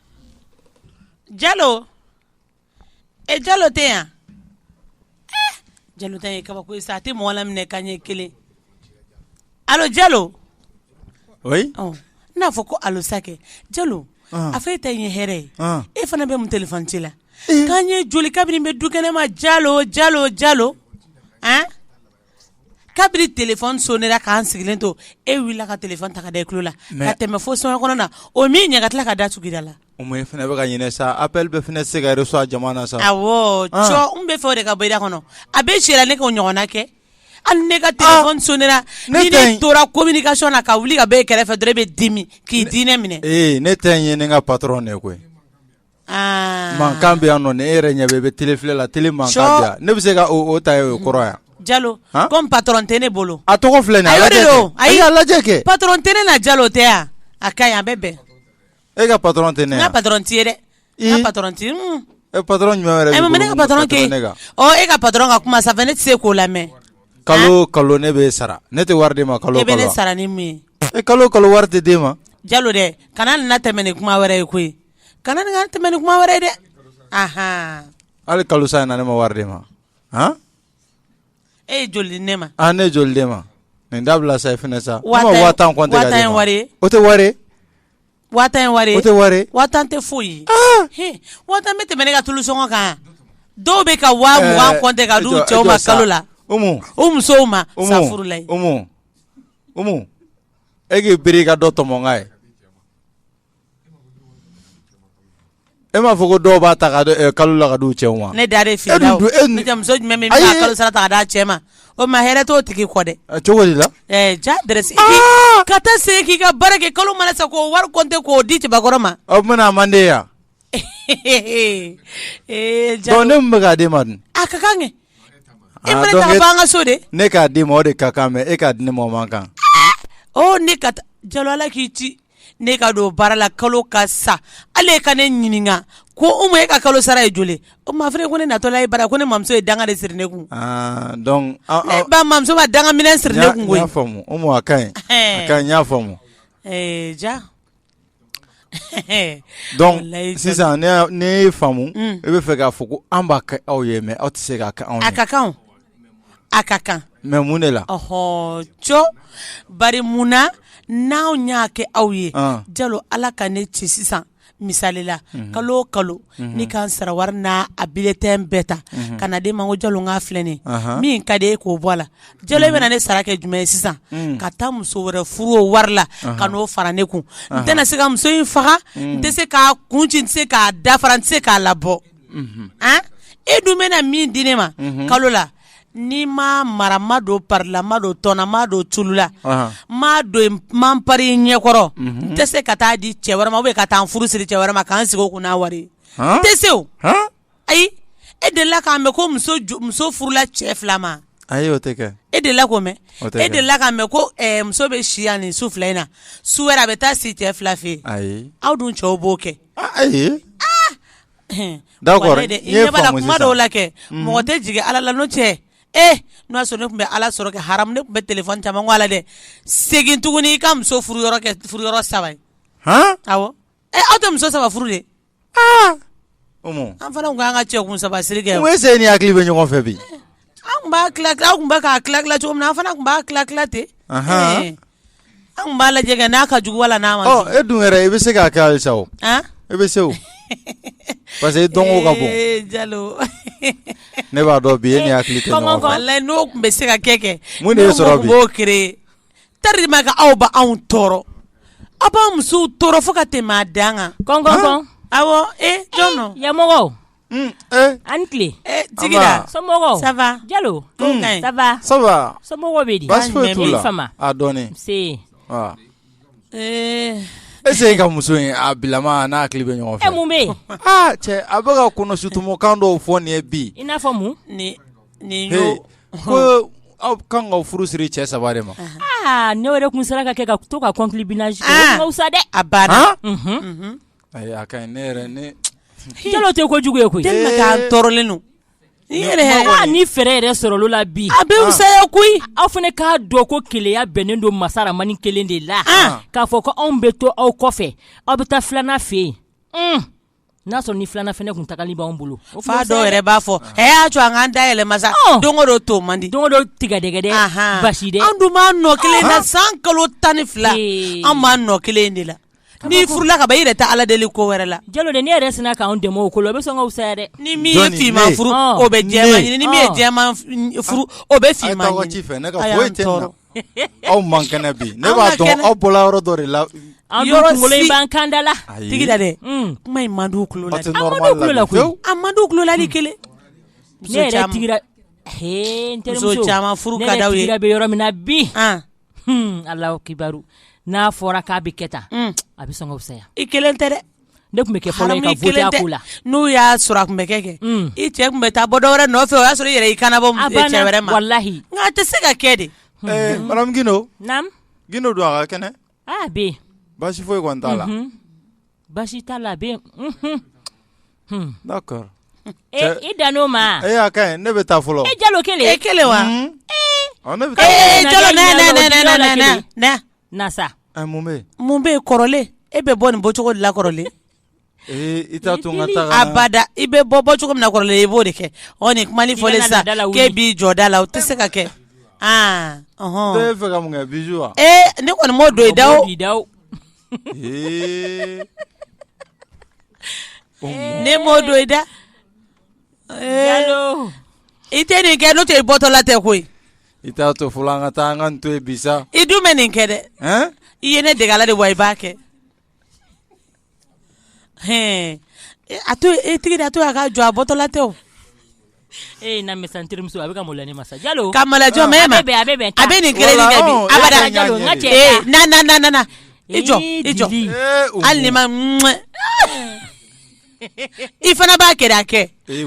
Jalo e jalo tɛ yan jalo ta in ye kabako ye sa a tɛ mɔgɔ laminɛ ka ɲɛ kelen allô jalo n'a fɔ ko allô sa kɛ jalo a fɔ e ta in ye hɛrɛ ye e fana bɛ mun téléphone ci la kan ye joli kabini n bɛ du kɛnɛ ma jalo jalo jalo Kabiri téléphone sonnera k'an sigilen to e wulila ka téléphone ta ka da i tulo la ka tɛmɛ fo so kɔnɔ na o min ɲɛ ka tila ka da tugu da la o e fana bɛ ka ɲinɛ sa appel bɛɛ bɛ se ka reçoit jama na sa n bɛ fɛ o de ka bɔ i da kɔnɔ a bɛ si ne k'o ɲɔgɔnna kɛ hali ne ka téléphone sonnera ni ne tora communication na ka wuli ka bɔ e kɛrɛfɛ dɔrɔn e bɛ dimi k'i diinɛ minɛ ne tɛ nin ye ne ka patron de koyi mankan bɛ yan nɔ e yɛrɛ ɲɛ i bɛ tele filɛ la tele mankan ne bɛ se ka ta ye o kɔrɔ yan jalo ko patron tɛ ne bolo a tɔgɔ filɛ a y'a lajɛ kɛ patron tɛ ne na jalo tɛ yan a ka a bɛ bɛn e ka patron tɛ ne patron t'i ye dɛ e patron e patron jumɛn e ma ne ka patron kɛ e ka patron ka kuma sanfɛ ne tɛ se k'o lamɛn kalo kalo ne bɛ sara ne tɛ wari d'e ma kalo e bɛ ne sara ni mun ye kalo kalo wari tɛ d'e ma jalo dɛ kana nin na tɛmɛ ni kuma wɛrɛ ye koyi kana nin tɛmɛ ni kuma wɛrɛ ye dɛ hali kalo sa in na ne ma wari d'e ma e ye joli di ne ma ne ye joli d'e ma nin dabila sa fɛnɛ sa o tɛ tɛ foyi bɛ tɛmɛ ne ka tulu sɔngɔ kan dɔw bɛ ka wa tɛ ka d'u cɛw ma kalo la musow ma e k'i biri i ka dɔ tɔmɔ n ka ye E m'a fɔ ko dɔw b'a ta kalo la ka d'u cɛw ma ne da e cɛ ma o ma hɛrɛ t'o tigi kɔ dɛ cogo di la ja ka taa se k'i ka baara kɛ kalo mana sa k'o wari compter k'o di cɛbakɔrɔ ma o a man di yan ja ne bɛ k'a d'e ma dun a ka kan kɛ e an ka so de ne k'a d'i ma o de ka kan mais e k'a di ne ma o man kan ne ka jalo ala k'i ci ne ka don baara la kalo ka sa ale ka ne ɲininka ko umu e ka kalo sara ye joli o ma fana ko ne natɔla e bara ko ne mamuso ye danga de siri ne kun ah, eh, ba mamuso ma danga minɛn siri ne kun koyi a ka ɲi a ka ɲi n y'a faamu eh, ja donc sisan ne y'a faamu mm. e b'a fɛ k'a fɔ ko an b'a kɛ aw ye mais aw tɛ se k'a kɛ anw ye a ka kan A ka kan mais mun de la hɔ co bari munna n' anw y'a kɛ aw ye jalo ala ka ne ci sisan misali la kalo kalo ne ka sara wari n' a bulletin bɛɛ ta ka na d'e ma ko jalo k'a filɛ nin ye min ka d'e ye k'o bɔ a la jalo e bɛna ne sara kɛ jumɛn ye sisan ka taa muso wɛrɛ furu o wari la ka n'o fara ne kun n tɛna se ka muso in faga n tɛ se k'a kun ci n tɛ se k'a dafara n tɛ se k'a labɔ e dun bɛna min di ne ma kalo la ni m'a mara n ma don pari la n ma don tɔn na n ma don tulu la n ma don man pari ɲɛkɔrɔ n tɛ se ka taa di cɛ wɛrɛ ma ou bien ka taa n furu siri cɛ wɛrɛ ma ka n sigi o kun n'a wari n tɛ se ayi e delila k'a mɛn ko muso furula cɛ fila ma e delila k'o mɛn e delila k'a mɛn ko muso bɛ si yan nin su fila in na su wɛrɛ a bɛ taa si cɛ fila fɛ aw dun cɛw b'o kɛ Ayi dɔw la kɛ mɔgɔ tɛ jigin ala la cɛ e n'a sɔrɔ ne tun bɛ ala sɔrɔ ha ne tun bɛ téléphone caman la dɛ segin tuguni i ka muso furu yɔrɔ saba aw tɛ muso saba furu de an fana tun k'an ka cɛ kun saba siri kɛ se ni hakili bɛ ɲɔgɔn fɛ bi tun b'a tila cogo min an fana tun b'a tila ten An tun b'a lajɛ kɛ n'a ka jugu wala n'a man jugu, ɔ e dun yɛrɛ i bɛ se k'a kɛ halisa o, an, i bɛ se o parce que i dɔnko ka bon, ee Jalo, ne b'a dɔn bi e ni n hakili tɛ ɲɔgɔn fɛ, kɔnkɔn, walayi n'o tun bɛ se ka kɛ kɛ, mun de y'e sɔrɔ bi, ne tun b'o créer tellement que aw bɛ anw tɔɔrɔ, aw b'an musow tɔɔrɔ fo ka tɛmɛ a dan kan, kɔnkɔn, awɔ, ee jɔn don, yan mɔgɔ Aw ni tile jalo somɔgɔw bɛ di ese ka muso in a bilama n'a hakili bɛ ɲɔgɔn fɛ cɛ a bɛka a kɔnɔ sutumokan dɔw fɔ nin ye bi i n'a fɔ ko aw kan ka furu siri cɛ saba de ma ne yɛrɛ tun sera ka kɛ ka to ka kɔnlisa dɛ a ba A ka ɲi ne yɛrɛ ne jalo tɛ ko jugu ye koyi tellement que an tɔɔrɔlen don ni fɛɛrɛ yɛrɛ sɔrɔla o la bi a bɛ fisaya koyi aw fana k'a dɔn ko keleya bɛnnen don masa rahamani kelen de la k'a fɔ ko anw bɛ to aw kɔfɛ aw bɛ taa filanan fɛ yen n'a sɔrɔ ni filanan fana tun tagali b'an bolo o fa dɔw yɛrɛ b'a fɔ a y'a to an ka da yɛlɛma sa don o don to man di don o don tigɛdɛgɛ dɛ basi an dun b'a nɔ kelen na san kalo tan ni fila an b'a nɔ kelen de la N'i furula ka ban i yɛrɛ tɛ Ala deli ko wɛrɛ la, jalo de n'i yɛrɛ sinna k'anw dɛmɛ o ko la o bɛ sɔn ka fisaya dɛ, ni min ye finman furu o bɛ jɛman ɲini ni min ye jɛman furu o bɛ finman ɲini, a y'an tɔɔrɔ, aw man kɛnɛ bi ne b'a dɔn aw bɔra yɔrɔ dɔ de la, aw dun kunkolo in b'an kan da la, ayi, Tigida dɛ, un, kuma in man di u tulo la, a tɛ normal la bi fiyewu, a man di u tulo la hali kelen, ne yɛrɛ tigira, hee n terimuso, muso caman furu ka d'u ye, ne yɛrɛ tigira bɛ yɔrɔ min na bi, an kibaru n'a fɔra k'a bɛ kɛ tan a bɛ sɔn ka fisaya i kelen tɛ dɛ ne tun bɛ kɛ fɔlɔ ye ka voter a ko la n'o y'a sɔrɔ a tun bɛ kɛ kɛ i cɛ tun bɛ taa bɔ dɔwɛrɛ nɔfɛ o y'a sɔrɔ i yɛrɛ i kana bɔ cɛ wɛrɛ ma walahi nka a tɛ se ka kɛ de madame gindo gindo don a ka kɛnɛ a bɛ yen basi foyi kɔni t'a la Baasi t'a la a bɛ yen i dan o ma ne bɛ taa fɔlɔ jalo kelen e kelen wa mun bɛ kɔrɔlen e bɛ bɔ nin bɔcogo de la kɔrɔlen abada i bɛ bɔ bɔcogo min na kɔrɔlen i b'o de kɛ nin kuma in fɔlen sa k'e b'i jɔ da la o tɛ se ka kɛ ne kɔni m'o don i da ne m'o don i da i tɛ nin kɛ n'o tɛ i bɔtɔla tɛ koyi i t'a to fɔlɔ an ka taa an ka to bi i dun bɛ nin kɛ dɛ i ye ne dege a la de wa i b'a kɛ a to e tigi da to a ka jɔ a bɔtɔla tɛ e na mɛ sa n terimuso a bɛ ka mɔlɛ ne masa jalo ka malajɔ mɛ ma a bɛ a bɛ nin kelen kɛ bi a bɛ jalo n ka cɛ na na na na na i jɔ i jɔ hali ni ma i fana b'a kɛ a kɛ i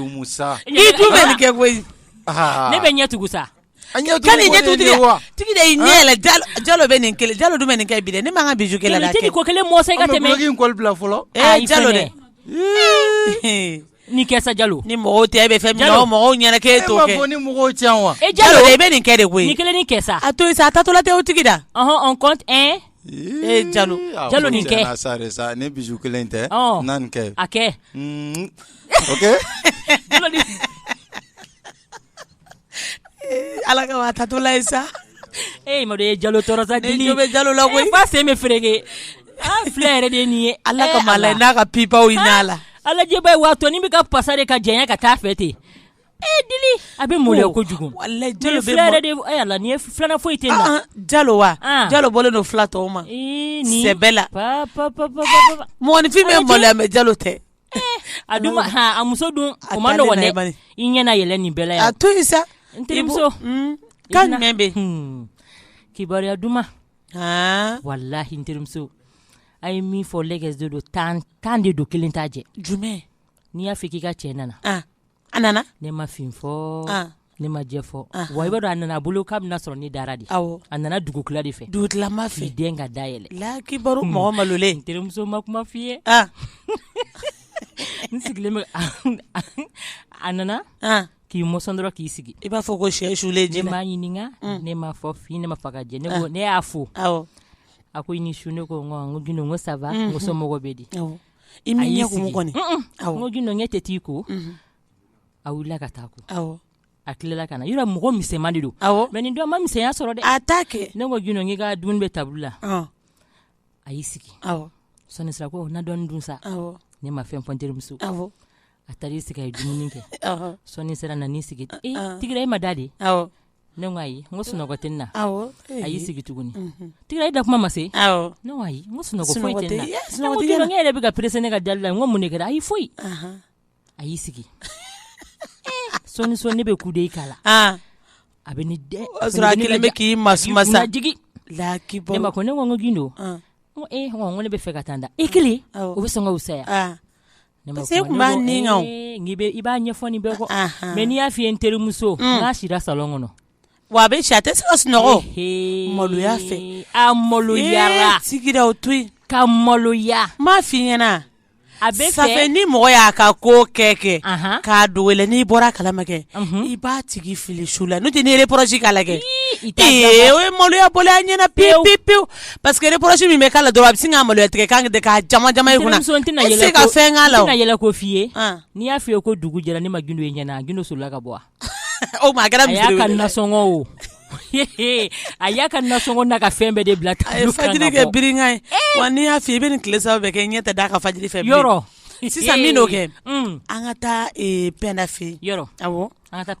dun bɛ nin kɛ koyi ne bɛ ɲɛ tugu sa An ɲɛ K'a ni ɲɛ tugu tigi la. Tigi de y'i ɲɛ yɛlɛ jalo jalo bɛ nin kelen jalo dun bɛ nin kɛ bi dɛ ne m'an ka bisou kɛ la dɛ Jalo i tɛ nin ko kelen mɔsɔn i ka tɛmɛ An bɛ duloki in kɔli bila fɔlɔ Ayi jalo dɛ Ee Nin kɛ sa jalo ni mɔgɔw tɛ e bɛ fɛn min na o mɔgɔw ɲɛna k'e t'o kɛ e m'a fɔ ni mɔgɔw tɛ yan wa e jalo i bɛ nin kɛ de koyi nin kelennin kɛ sa a to yen sa a taatɔla tɛ o tigi da ɔhɔn on compte un ee jalo jalo nin kɛ sa de sa ni bisou kelen tɛ na nin kɛ a kɛ ok jalo ni Ala ka a taatɔla ye sa e ye jalo tɔɔrɔ sa bɛ jalo la ko ba sen bɛ fereke fila yɛrɛ de nin ye ala ka la n'a ka pbaw la la alaba ye waatɔ ni bɛ ka pasa de ka jɛya ka taa fɛ ten dili a bɛ mɔlɛ kojugu la nin ye filan foyi tɛ jalo wa jalo bɔlen don fila tɔw ma nin bɛɛ la mɔgɔninfin bɛ bɔ bɛ jalo tɛ a dun ma han a muso dun o ma nɔgɔn dɛ i ɲɛna yɛlɛ nin bɛɛ la yan a to yen sa n terimuso hmm, kan jumɛn bɛ hmm, kibaruya duman walahi n terimuso a ye min fɔ lɛgɛs de don tan tan de don kelen t'a jɛ jumɛn n'i y'a fɔ k'i ka cɛ nana A nana ne ma fin fɔ ne ma jɛ fɔ wa i b'a dɔn a nana a bolo k'a bɛna sɔrɔ ne dara de a nana dugutila de fɛ dugutilama fɛ den ka da yɛlɛ la kibaru mɔgɔ malolen n terimuso ma kuma f fɔ i ye n sigilen bɛ a nana k'i mɔsɔn dɔrɔn k'i sigi i b'a fɔ ko shɛ sulen ne m'a ɲininka ne ma fɔ fin ne m'a fɔ ka jɛ ne ne y'a fo a ko i ni su ne ko ko ça va somɔgɔw bɛ di I m'i ɲɛ kumu kɔni un-un awɔ n ko gindo n k'e tɛ t'i ko unhun a wulila ka taa a ko awɔ a tilala ka na yɔrɔ mɔgɔ misɛnman de don awɔ mais nin don a ma misɛnya sɔrɔ dɛ a t'a kɛ ne ko gindo n k'i ka dumuni bɛ table la ɔɔn a y'i sigi awɔ sɔɔnin sira ko na dɔɔnin dun sa awɔ ne ma fɛn fɔ n terimuso ye awɔ A taara i sigi a ye dumuni kɛ sɔɔni sera nan'i sigi tigira e ma da de ne ko ayi n ko sunɔgɔ tɛ n na a y'i sigi tuguni tigira e da kuma ma se ne ko ayi n ko sunɔgɔ foyi tɛ n na ne ko gindo yɛrɛ bɛ ka perese ne ka dali la n ko mun de kɛra ayi foyi a y'i sigi sɔɔni sɔn ne bɛ ku de i k'a la a bɛ bɛ k'i ma masa jigin laki bɔ ma ko ne ko n ko gindo ko e ko ne bɛ fɛ ka taa da e kelen o bɛ sɔn ka wusaya I b'a ɲɛfɔ mɛ n'i y'a f'i ye n terimuso n k'a sira salon kɔnɔ wa a bɛ si a tɛ se ka sunɔgɔ maloya fɛ a maloyara sigira o to yen ka maloya n m'a f'i ɲɛna a bɛ sa ni mɔgɔ y'a ka ko kɛ kɛ k'a dogo i la n'i bɔra a kalama kɛ i b'a tigi fili su la n'o tɛ ni reproche k'a la kɛ o ye maloya bɔlen a ɲɛna pe pe pewu paseke reproche min bɛ k'a la dɔrɔn a bɛ sin ka malo tigɛ kan de k'a jama i kunna e tɛna se ka fɛn k'a la n tɛna yɛlɛko f'i ye n'i y'a f'i ye ko dugu jɛra ne ma gindo ye ɲɛna gindo solila ka bɔ o ma kɛra misiri a y'a ka nasɔngɔ o a y'a ka nasɔngɔ n'a ka fɛn bɛɛ de bila a ye fajiri kɛ birinkan ye wa n'i y'a f'i ye i bɛ nin tile saba bɛɛ kɛ ɲɛ tɛ d'a kan fajiri fɛ yɔrɔ sisan min' kɛ an ka taa pɛnda fɛ yɔrɔ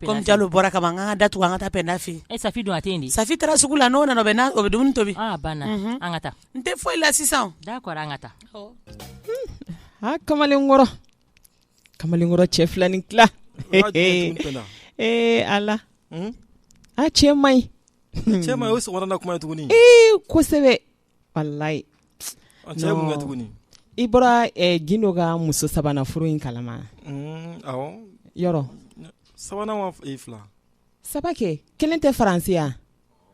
Komi jalo bɔra ka ban an ka da tugu an ka taa pɛnda fɛ yen safi dun a tɛ yen de safi taara sugu la n'o nana o bɛ dumuni tobi banna an ka taa n tɛ foyi la sisan d'accord an ka taa aa kamalenkɔrɔ kamalenkɔrɔ cɛ fila ni tila ee ala a cɛ man ɲi cɛ o sɔgɔmada na kuma ye tuguni ee kosɛbɛ walayi ɔ cɛ mun kɛ tuguni i bɔra eh, gindo ka muso sabanan furu in kalama Mm, awɔ yɔrɔ sabanan wa ee fila saba kɛ kelen tɛ faransi yan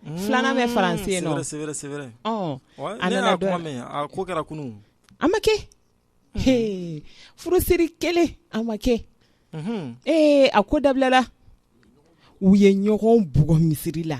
Mm, Filanan bɛ faransi yen nɔ. c'est vrai, c'est vrai, c'est vrai. ɔn Ouais, A ne nana y'a dɔ- kuma mɛn a ko kɛra kunun a ma kɛ He, furusiri kelen a ma kɛ Mhm. ee a ko dabilala u ye ɲɔgɔn bugɔ misiri la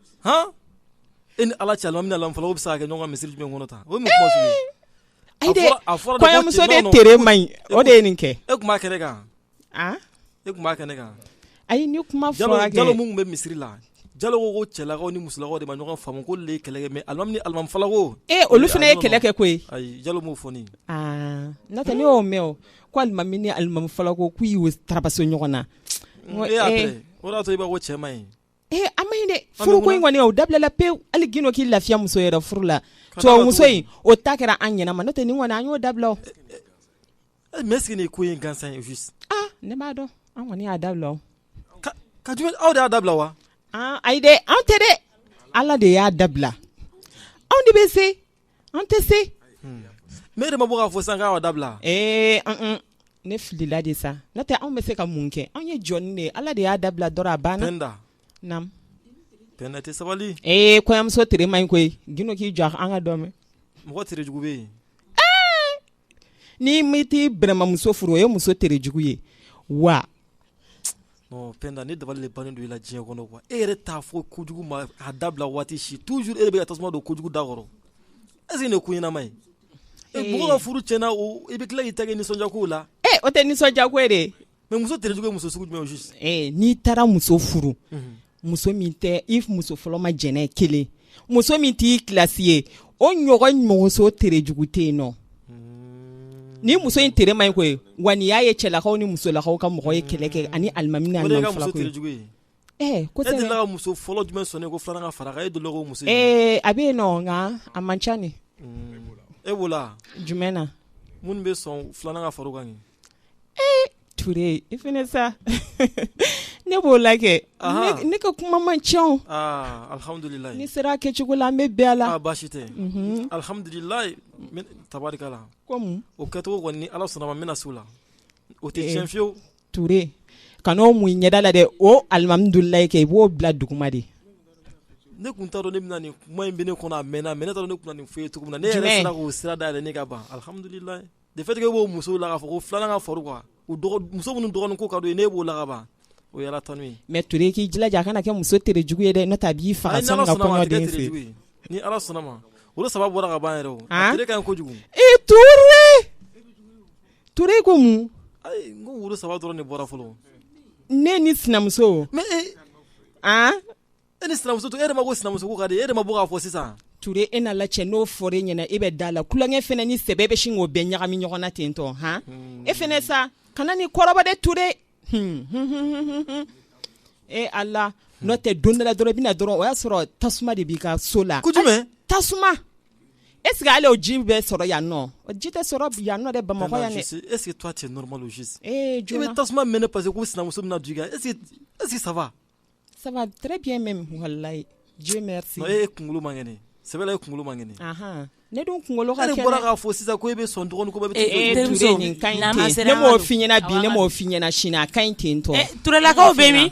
hɔn e ni ala cɛ alimami ni alimami falako bɛ se ka kɛ ɲɔgɔn kan misiri jumɛn kɔnɔ tan o ye mun kuma sugu ye ayi dɛ a fɔra de ko kɔɲɔmuso de cɛ- tere man ɲi o de ye nin kɛ e tun b'a kɛnɛ kan ah e tun b'a kɛnɛ kan ayi ni kuma jalo fɔra jalo kɛ min tun bɛ misiri la jalo ko ko cɛlakaw ni musolakaw de ma ɲɔgɔn faamu k'olu ye kɛlɛ kɛ mɛ alimami ni alimami falako ee olu fana ye kɛlɛ kɛ koyi ayi jalo m'o fɔ ne ye ah n'o tɛ ne y'o mɛn o ko alimami ni alimami falako k'u y'u tarabaso ɲɔgɔn na N ko, e y'a ee, après o de y'a to i b'a ko cɛ man ɲi Ee a man ɲi dɛ furuko in kɔni o dabilala pewu hali gindo k'i lafiya muso yɛrɛ furu la tubabu muso in o ta kɛra an ɲɛna ma n'o tɛ nin kɔni an y'o dabila mɛ est-ce que nin ko ye gansan ye ne b'a dɔn an kɔni y'a dabila ka aw de y'a dabila wa ayi dɛ an tɛ dɛ ala de y'a dabila anw de bɛ se an tɛ se mais e de ma bɔ k'a fɔ sisan k'a y'a dabila ee ne filila de sa n'o tɛ anw bɛ se ka mun kɛ anw ye jɔn de ye ala de y'a dabila dɔrɔn a banna penda tɛ sabali ee kɔɲɔmuso tere man ɲi koyi gino k'i jɔ an k'a dɔn mɔgɔ tere jugu bɛ yen ni mi t'i bɛrɛmamuso furu o ye muso tere jugu ye wa non penda ne dabali de bannen don i la diɲɛ kɔnɔ quoi e yɛrɛ t'a fɔ kojugu ma a dabila waati si toujours e de bɛ ka tasuma don kojugu da kɔrɔ est ce que nin ye ko ɲɛnama ye mɔgɔ ka furu tiɲɛna i bɛ tila k'i ta kɛ nisɔndiya kow la ee o tɛ nisɔndiya ko ye dɛ Mais muso tere jugu ye muso sugu jumɛn ye au juste? Ee n'i taara muso furu, unhun, muso min tɛ i muso fɔlɔ ma jɛn n'a ye kelen, muso min t'i classe ye o ɲɔgɔn muso tere jugu tɛ yen nɔ, unn, ni muso in tere man ɲi koyi wa n'i y'a ye cɛlakaw ni musolakaw ka mɔgɔ ye kɛlɛ kɛ ani alimami ni alimami fila koyi, o de ye i ka muso tere jugu ye Ee ko tɛ la muso fɔlɔ jumɛn sɔn ko filanan ka fara e dɔgɔ muso ee a bɛ yen nɔ nka a man ca ni e b'o la jumɛn na minnu bɛ sɔn filanan ka fara o kan ee Ture i fana sa ne b'o la kɛ ne ka kuma man ca alihamdulila n'i sera a kɛcogo la an bɛ bɛn a la baasi tɛ alihamdula tabarikala o kɛcogo kɔni ni ala sɔnna ma n bɛna se o la o tɛ tiɲɛ fiyewu ture kan'o mun i ɲɛda la dɛ o alihamudulilayi kɛ i b'o bila duguma de ne tun t'a dɔn ne bɛna nin kuma in bɛ ne kɔnɔ a mɛnna mais ne t'a dɔn ne tun bɛna nin f'i ye cogo min na ne yɛrɛ sera k'o sira dayɛlɛ ne ka ban alihamudulilayi le fait que e b'o musow la k'a fɔ ko filanan ka fara quoi u dɔgɔ muso minnu dɔgɔnin ko ka d'u ye n'e b'o la ka ban o ye alatanu ye mais Ture i k'i jilaja a kana kɛ muso tere jugu ye dɛ n'o tɛ a b'i faga sani ka kɔɲɔ d'e fɛ yen ni Ala sɔnna ma woro saba bɔra ka ban yɛrɛ o a tere ka ɲi kojugu i Ture Ture ko mun n ko woro saba dɔrɔn de bɔra fɔlɔ ne ni sinamuso mais e e ni sinamuso e ma ko sinamuso ka di e ma bɔ k'a fɔ sisan ture e n'Ala cɛ n'o fɔra e ɲɛna e bɛ da la tulonkɛ fana ni sɛbɛ bɛ sin k'o bɛɛ ɲagami ɲɔgɔn na ten tɔ hɔn e fana sa kana ne kɔrɔbɔ dɛ ture e Ala n'o tɛ don dɔ la dɔrɔn i bɛna na dɔrɔn o y'a sɔrɔ tasuma de b'i ka so la tasuma est ce que ale o ji bɛ sɔrɔ yan nɔ ji tɛ sɔrɔ yan nɔ dɛ bamakɔ yan i bɛ tasuma mɛnɛ parce que sinamuso na ji est ce que ça va ça va très bien même wallahi e kunkolo man kɛnɛ sɛbɛ la e kunkolo man kɛnɛ ne dun kunkolo ka kɛnɛ e bɔra k'a fɔ sisan ko e bɛ sɔn dɔgɔnin ne m'o f'i ɲɛna bi ne m'o f'i ɲɛna sini a ka ɲi ten tɔ Turelakaw bɛ min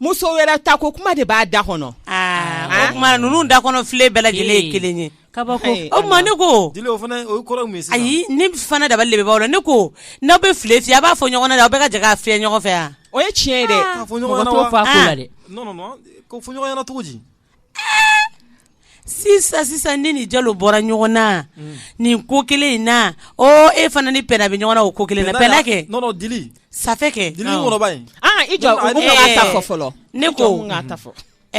muso wɛrɛ ta ko kuma de b'a da kɔnɔ o tuma ninnu da kɔnɔ file bɛɛ lajɛlen ye kelen ye kabako o tuma ne ko ayi ne fana dabali bɛ ban aw la ne ko n'aw bɛ file fiyɛ a b'a fɔ ɲɔgɔn na aw bɛɛ ka jɛ k'a fiyɛ ɲɔgɔn fɛ yan o ye tiɲɛ ye dɛ sisan sisan ne ni jalo bɔra ɲɔgɔn na nin ko kelen in na e fana ni pɛna bɛ ɲɔgɔn na o ko kelen bɛɛ kɛ ne ko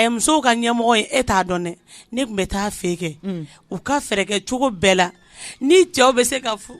musow ka ɲɛmɔgɔ ye e t'a dɔn dɛ ne tun bɛ taa fɛ kɛ u ka fɛɛrɛ kɛcogo bɛɛ la ni cɛw bɛ se ka furu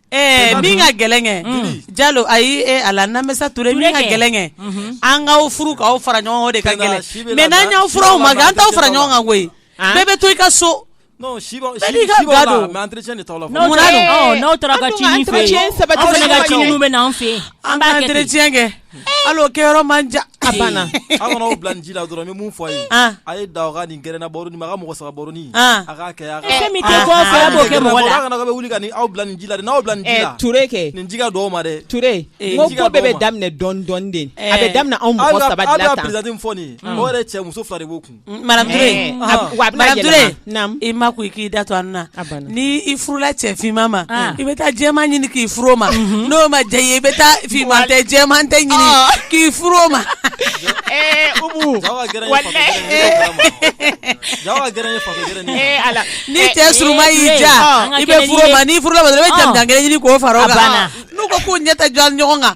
Ɛɛ min ka gɛlɛn kɛ jalo ayi Ala namisa ture min ka gɛlɛn kɛ an k'aw furu k'aw fara ɲɔgɔn kan de ka gɛlɛn mais n'an y'aw furu aw ma an t'aw fara ɲɔgɔn kan koyi bɛɛ bɛ to i ka so n'aw saba bɛ ɲɔgɔn fɛ bɛ an fɛ Aleo kɛ yɔrɔ man ja a banna aw bila ji la dɔrɔn min fɔ a ye a ye da ni gna ma mɔgɔ sa wuli aw bila ji la n'aw bila kɛ nin ji dɔw ma dɛ tu bɛɛ bɛ daminɛ dɔn dɔnden a bɛ daminɛ anw fɔ mɔgɔ yɛrɛ cɛ muso fila de b'o kun i ma ko i k'i da to an na ni i furula cɛ finman ma i bɛ taa jɛman ɲini k'i furu o ma n'o ma diya i ye i bɛ taa finman tɛ jɛman tɛ ɲini k'i furu o ma ni cɛ surunman y'i ja i bɛ furu o ma n'i furula i bɛ jamanjan kelen ɲini k'o fara o kan n'u ko k'u ɲɛ tɛ da ɲɔgɔn kan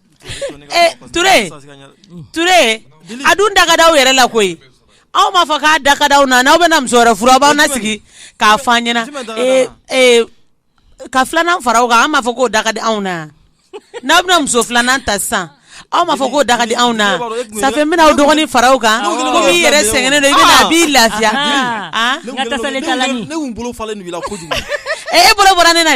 a dun da ka d'aw yɛrɛ la koyi aw m'a fɔ k'a da ka d'aw na n'aw bɛna muso wɛrɛ furu aw b'an nasigi k'a fɔ an ɲɛna ka filanan fara o kan an m'a fɔ k'o da ka di anw na n'aw bɛna muso filanan ta sisan aw m'a fɔ k'o da ka di anw na ça fait n bɛna aw dɔgɔnin fara aw kan komi i yɛrɛ sɛgɛnnen don a b'i lafiya e bolo bɔra ne na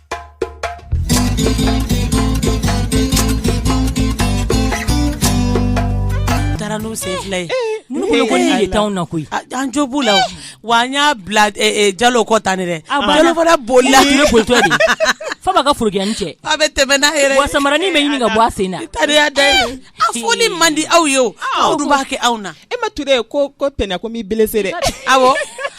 Taara n'u sen fila ye na koyi an jo b'u la wa an y'a bila jalo kɔ tan dɛ boli f'a b'a ka forokiyani cɛ a bɛ tɛmɛ n'a yɛrɛ wa samara bɛ ɲini ka bɔ a sen na taya da a fɔli man di aw ye aw b'a kɛ aw na e ma ture ko ko tɛnɛn ko n b'i blessé dɛ aw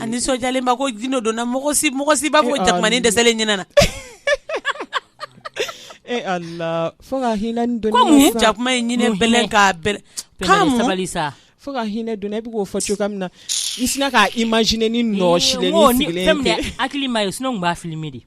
A nisɔndiyalenba ko gundo dɔnna mɔgɔ si mɔgɔ si b'a fɔ ko jakumani dɛsɛlen ɲinɛ na, e Ala, fo ka hinɛ ni donni kɛ sa, komi jakuma ye ɲinɛ bɛlɛn k'a bɛlɛn, pɛrɛ sabali sa, fo ka hinɛ donni na i bɛ k'o fɔ cogoya min na n sinna k'a imaginer ni nɔɔsilen ye, n ko fɛn min y'a hakili m'a ye sinon n tun b'a filmer de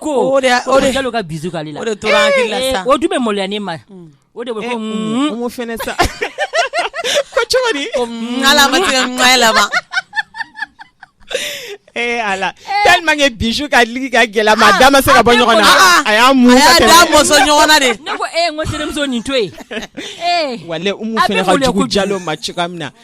ko ka bi o dun bɛ maloya ne ma o de sa cogo ma ee ala tellement que bisou kɛli ka gɛlɛn ma ah, da ma se ka bɔ ah, ɲɔgɔn na ah, a y'a mun mɔsɔn ɲɔgɔn na de ne ko e n ko terimuso nin to yen walayi umu fɛnɛ ka jugu jalo ma cogoya min na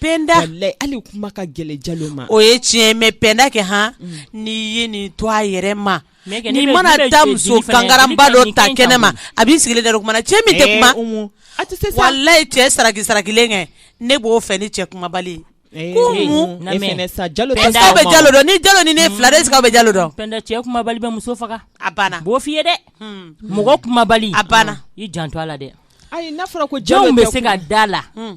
penda hali kuma ka gɛlɛ jalo ma o ye tiɲɛ mais penda kɛ hɔn mm. n'i ye nin to a yɛrɛ ma ni mana taa muso kangaraba dɔ ta kɛnɛ ma a b'i sigilen da kuma na cɛ min tɛ eh, kuma walayi cɛ saraki sarakilen kɛ ne b'o fɛ ni cɛ kumabali eh, ko eh, jalo bɛ jalo dɔn ni jalo ni ne fila de sigi bɛ jalo dɔn cɛ kumabali bɛ muso faga a banna b'o f'i ye dɛ hmm. mɔgɔ kumabali a banna i janto a la dɛ ayi n'a fɔra ko jalo bɛ se ka da la hmm.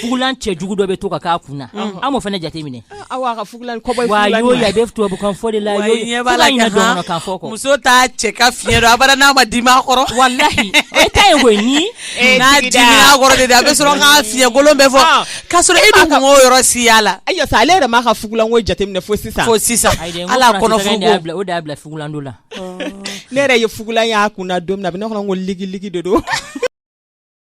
fugulan cɛ jugu dɔ bɛ to ka k'a kun na an m'o fana jate minɛ tubabukan fɔ de la muso t'a cɛ ka fiɲɛ dɔn abada n'a ma dimi a kɔrɔ walayi e ta ye koyi ni n'a dimi a kɔrɔ de a bɛ sɔrɔ k'a fiɲɛkolon bɛ fɔ ah. k'a sɔrɔ e dun kun t'o yɔrɔ si y'a la ayi sa ale yɛrɛ m'a ka fugulanko jateminɛ fo sisan fo sisan ala kɔnɔ o de y'a bila fugulanko la ne yɛrɛ ye fugulan y'a kun na don min na a bɛ ne kɔnɔ ko ligiligi de don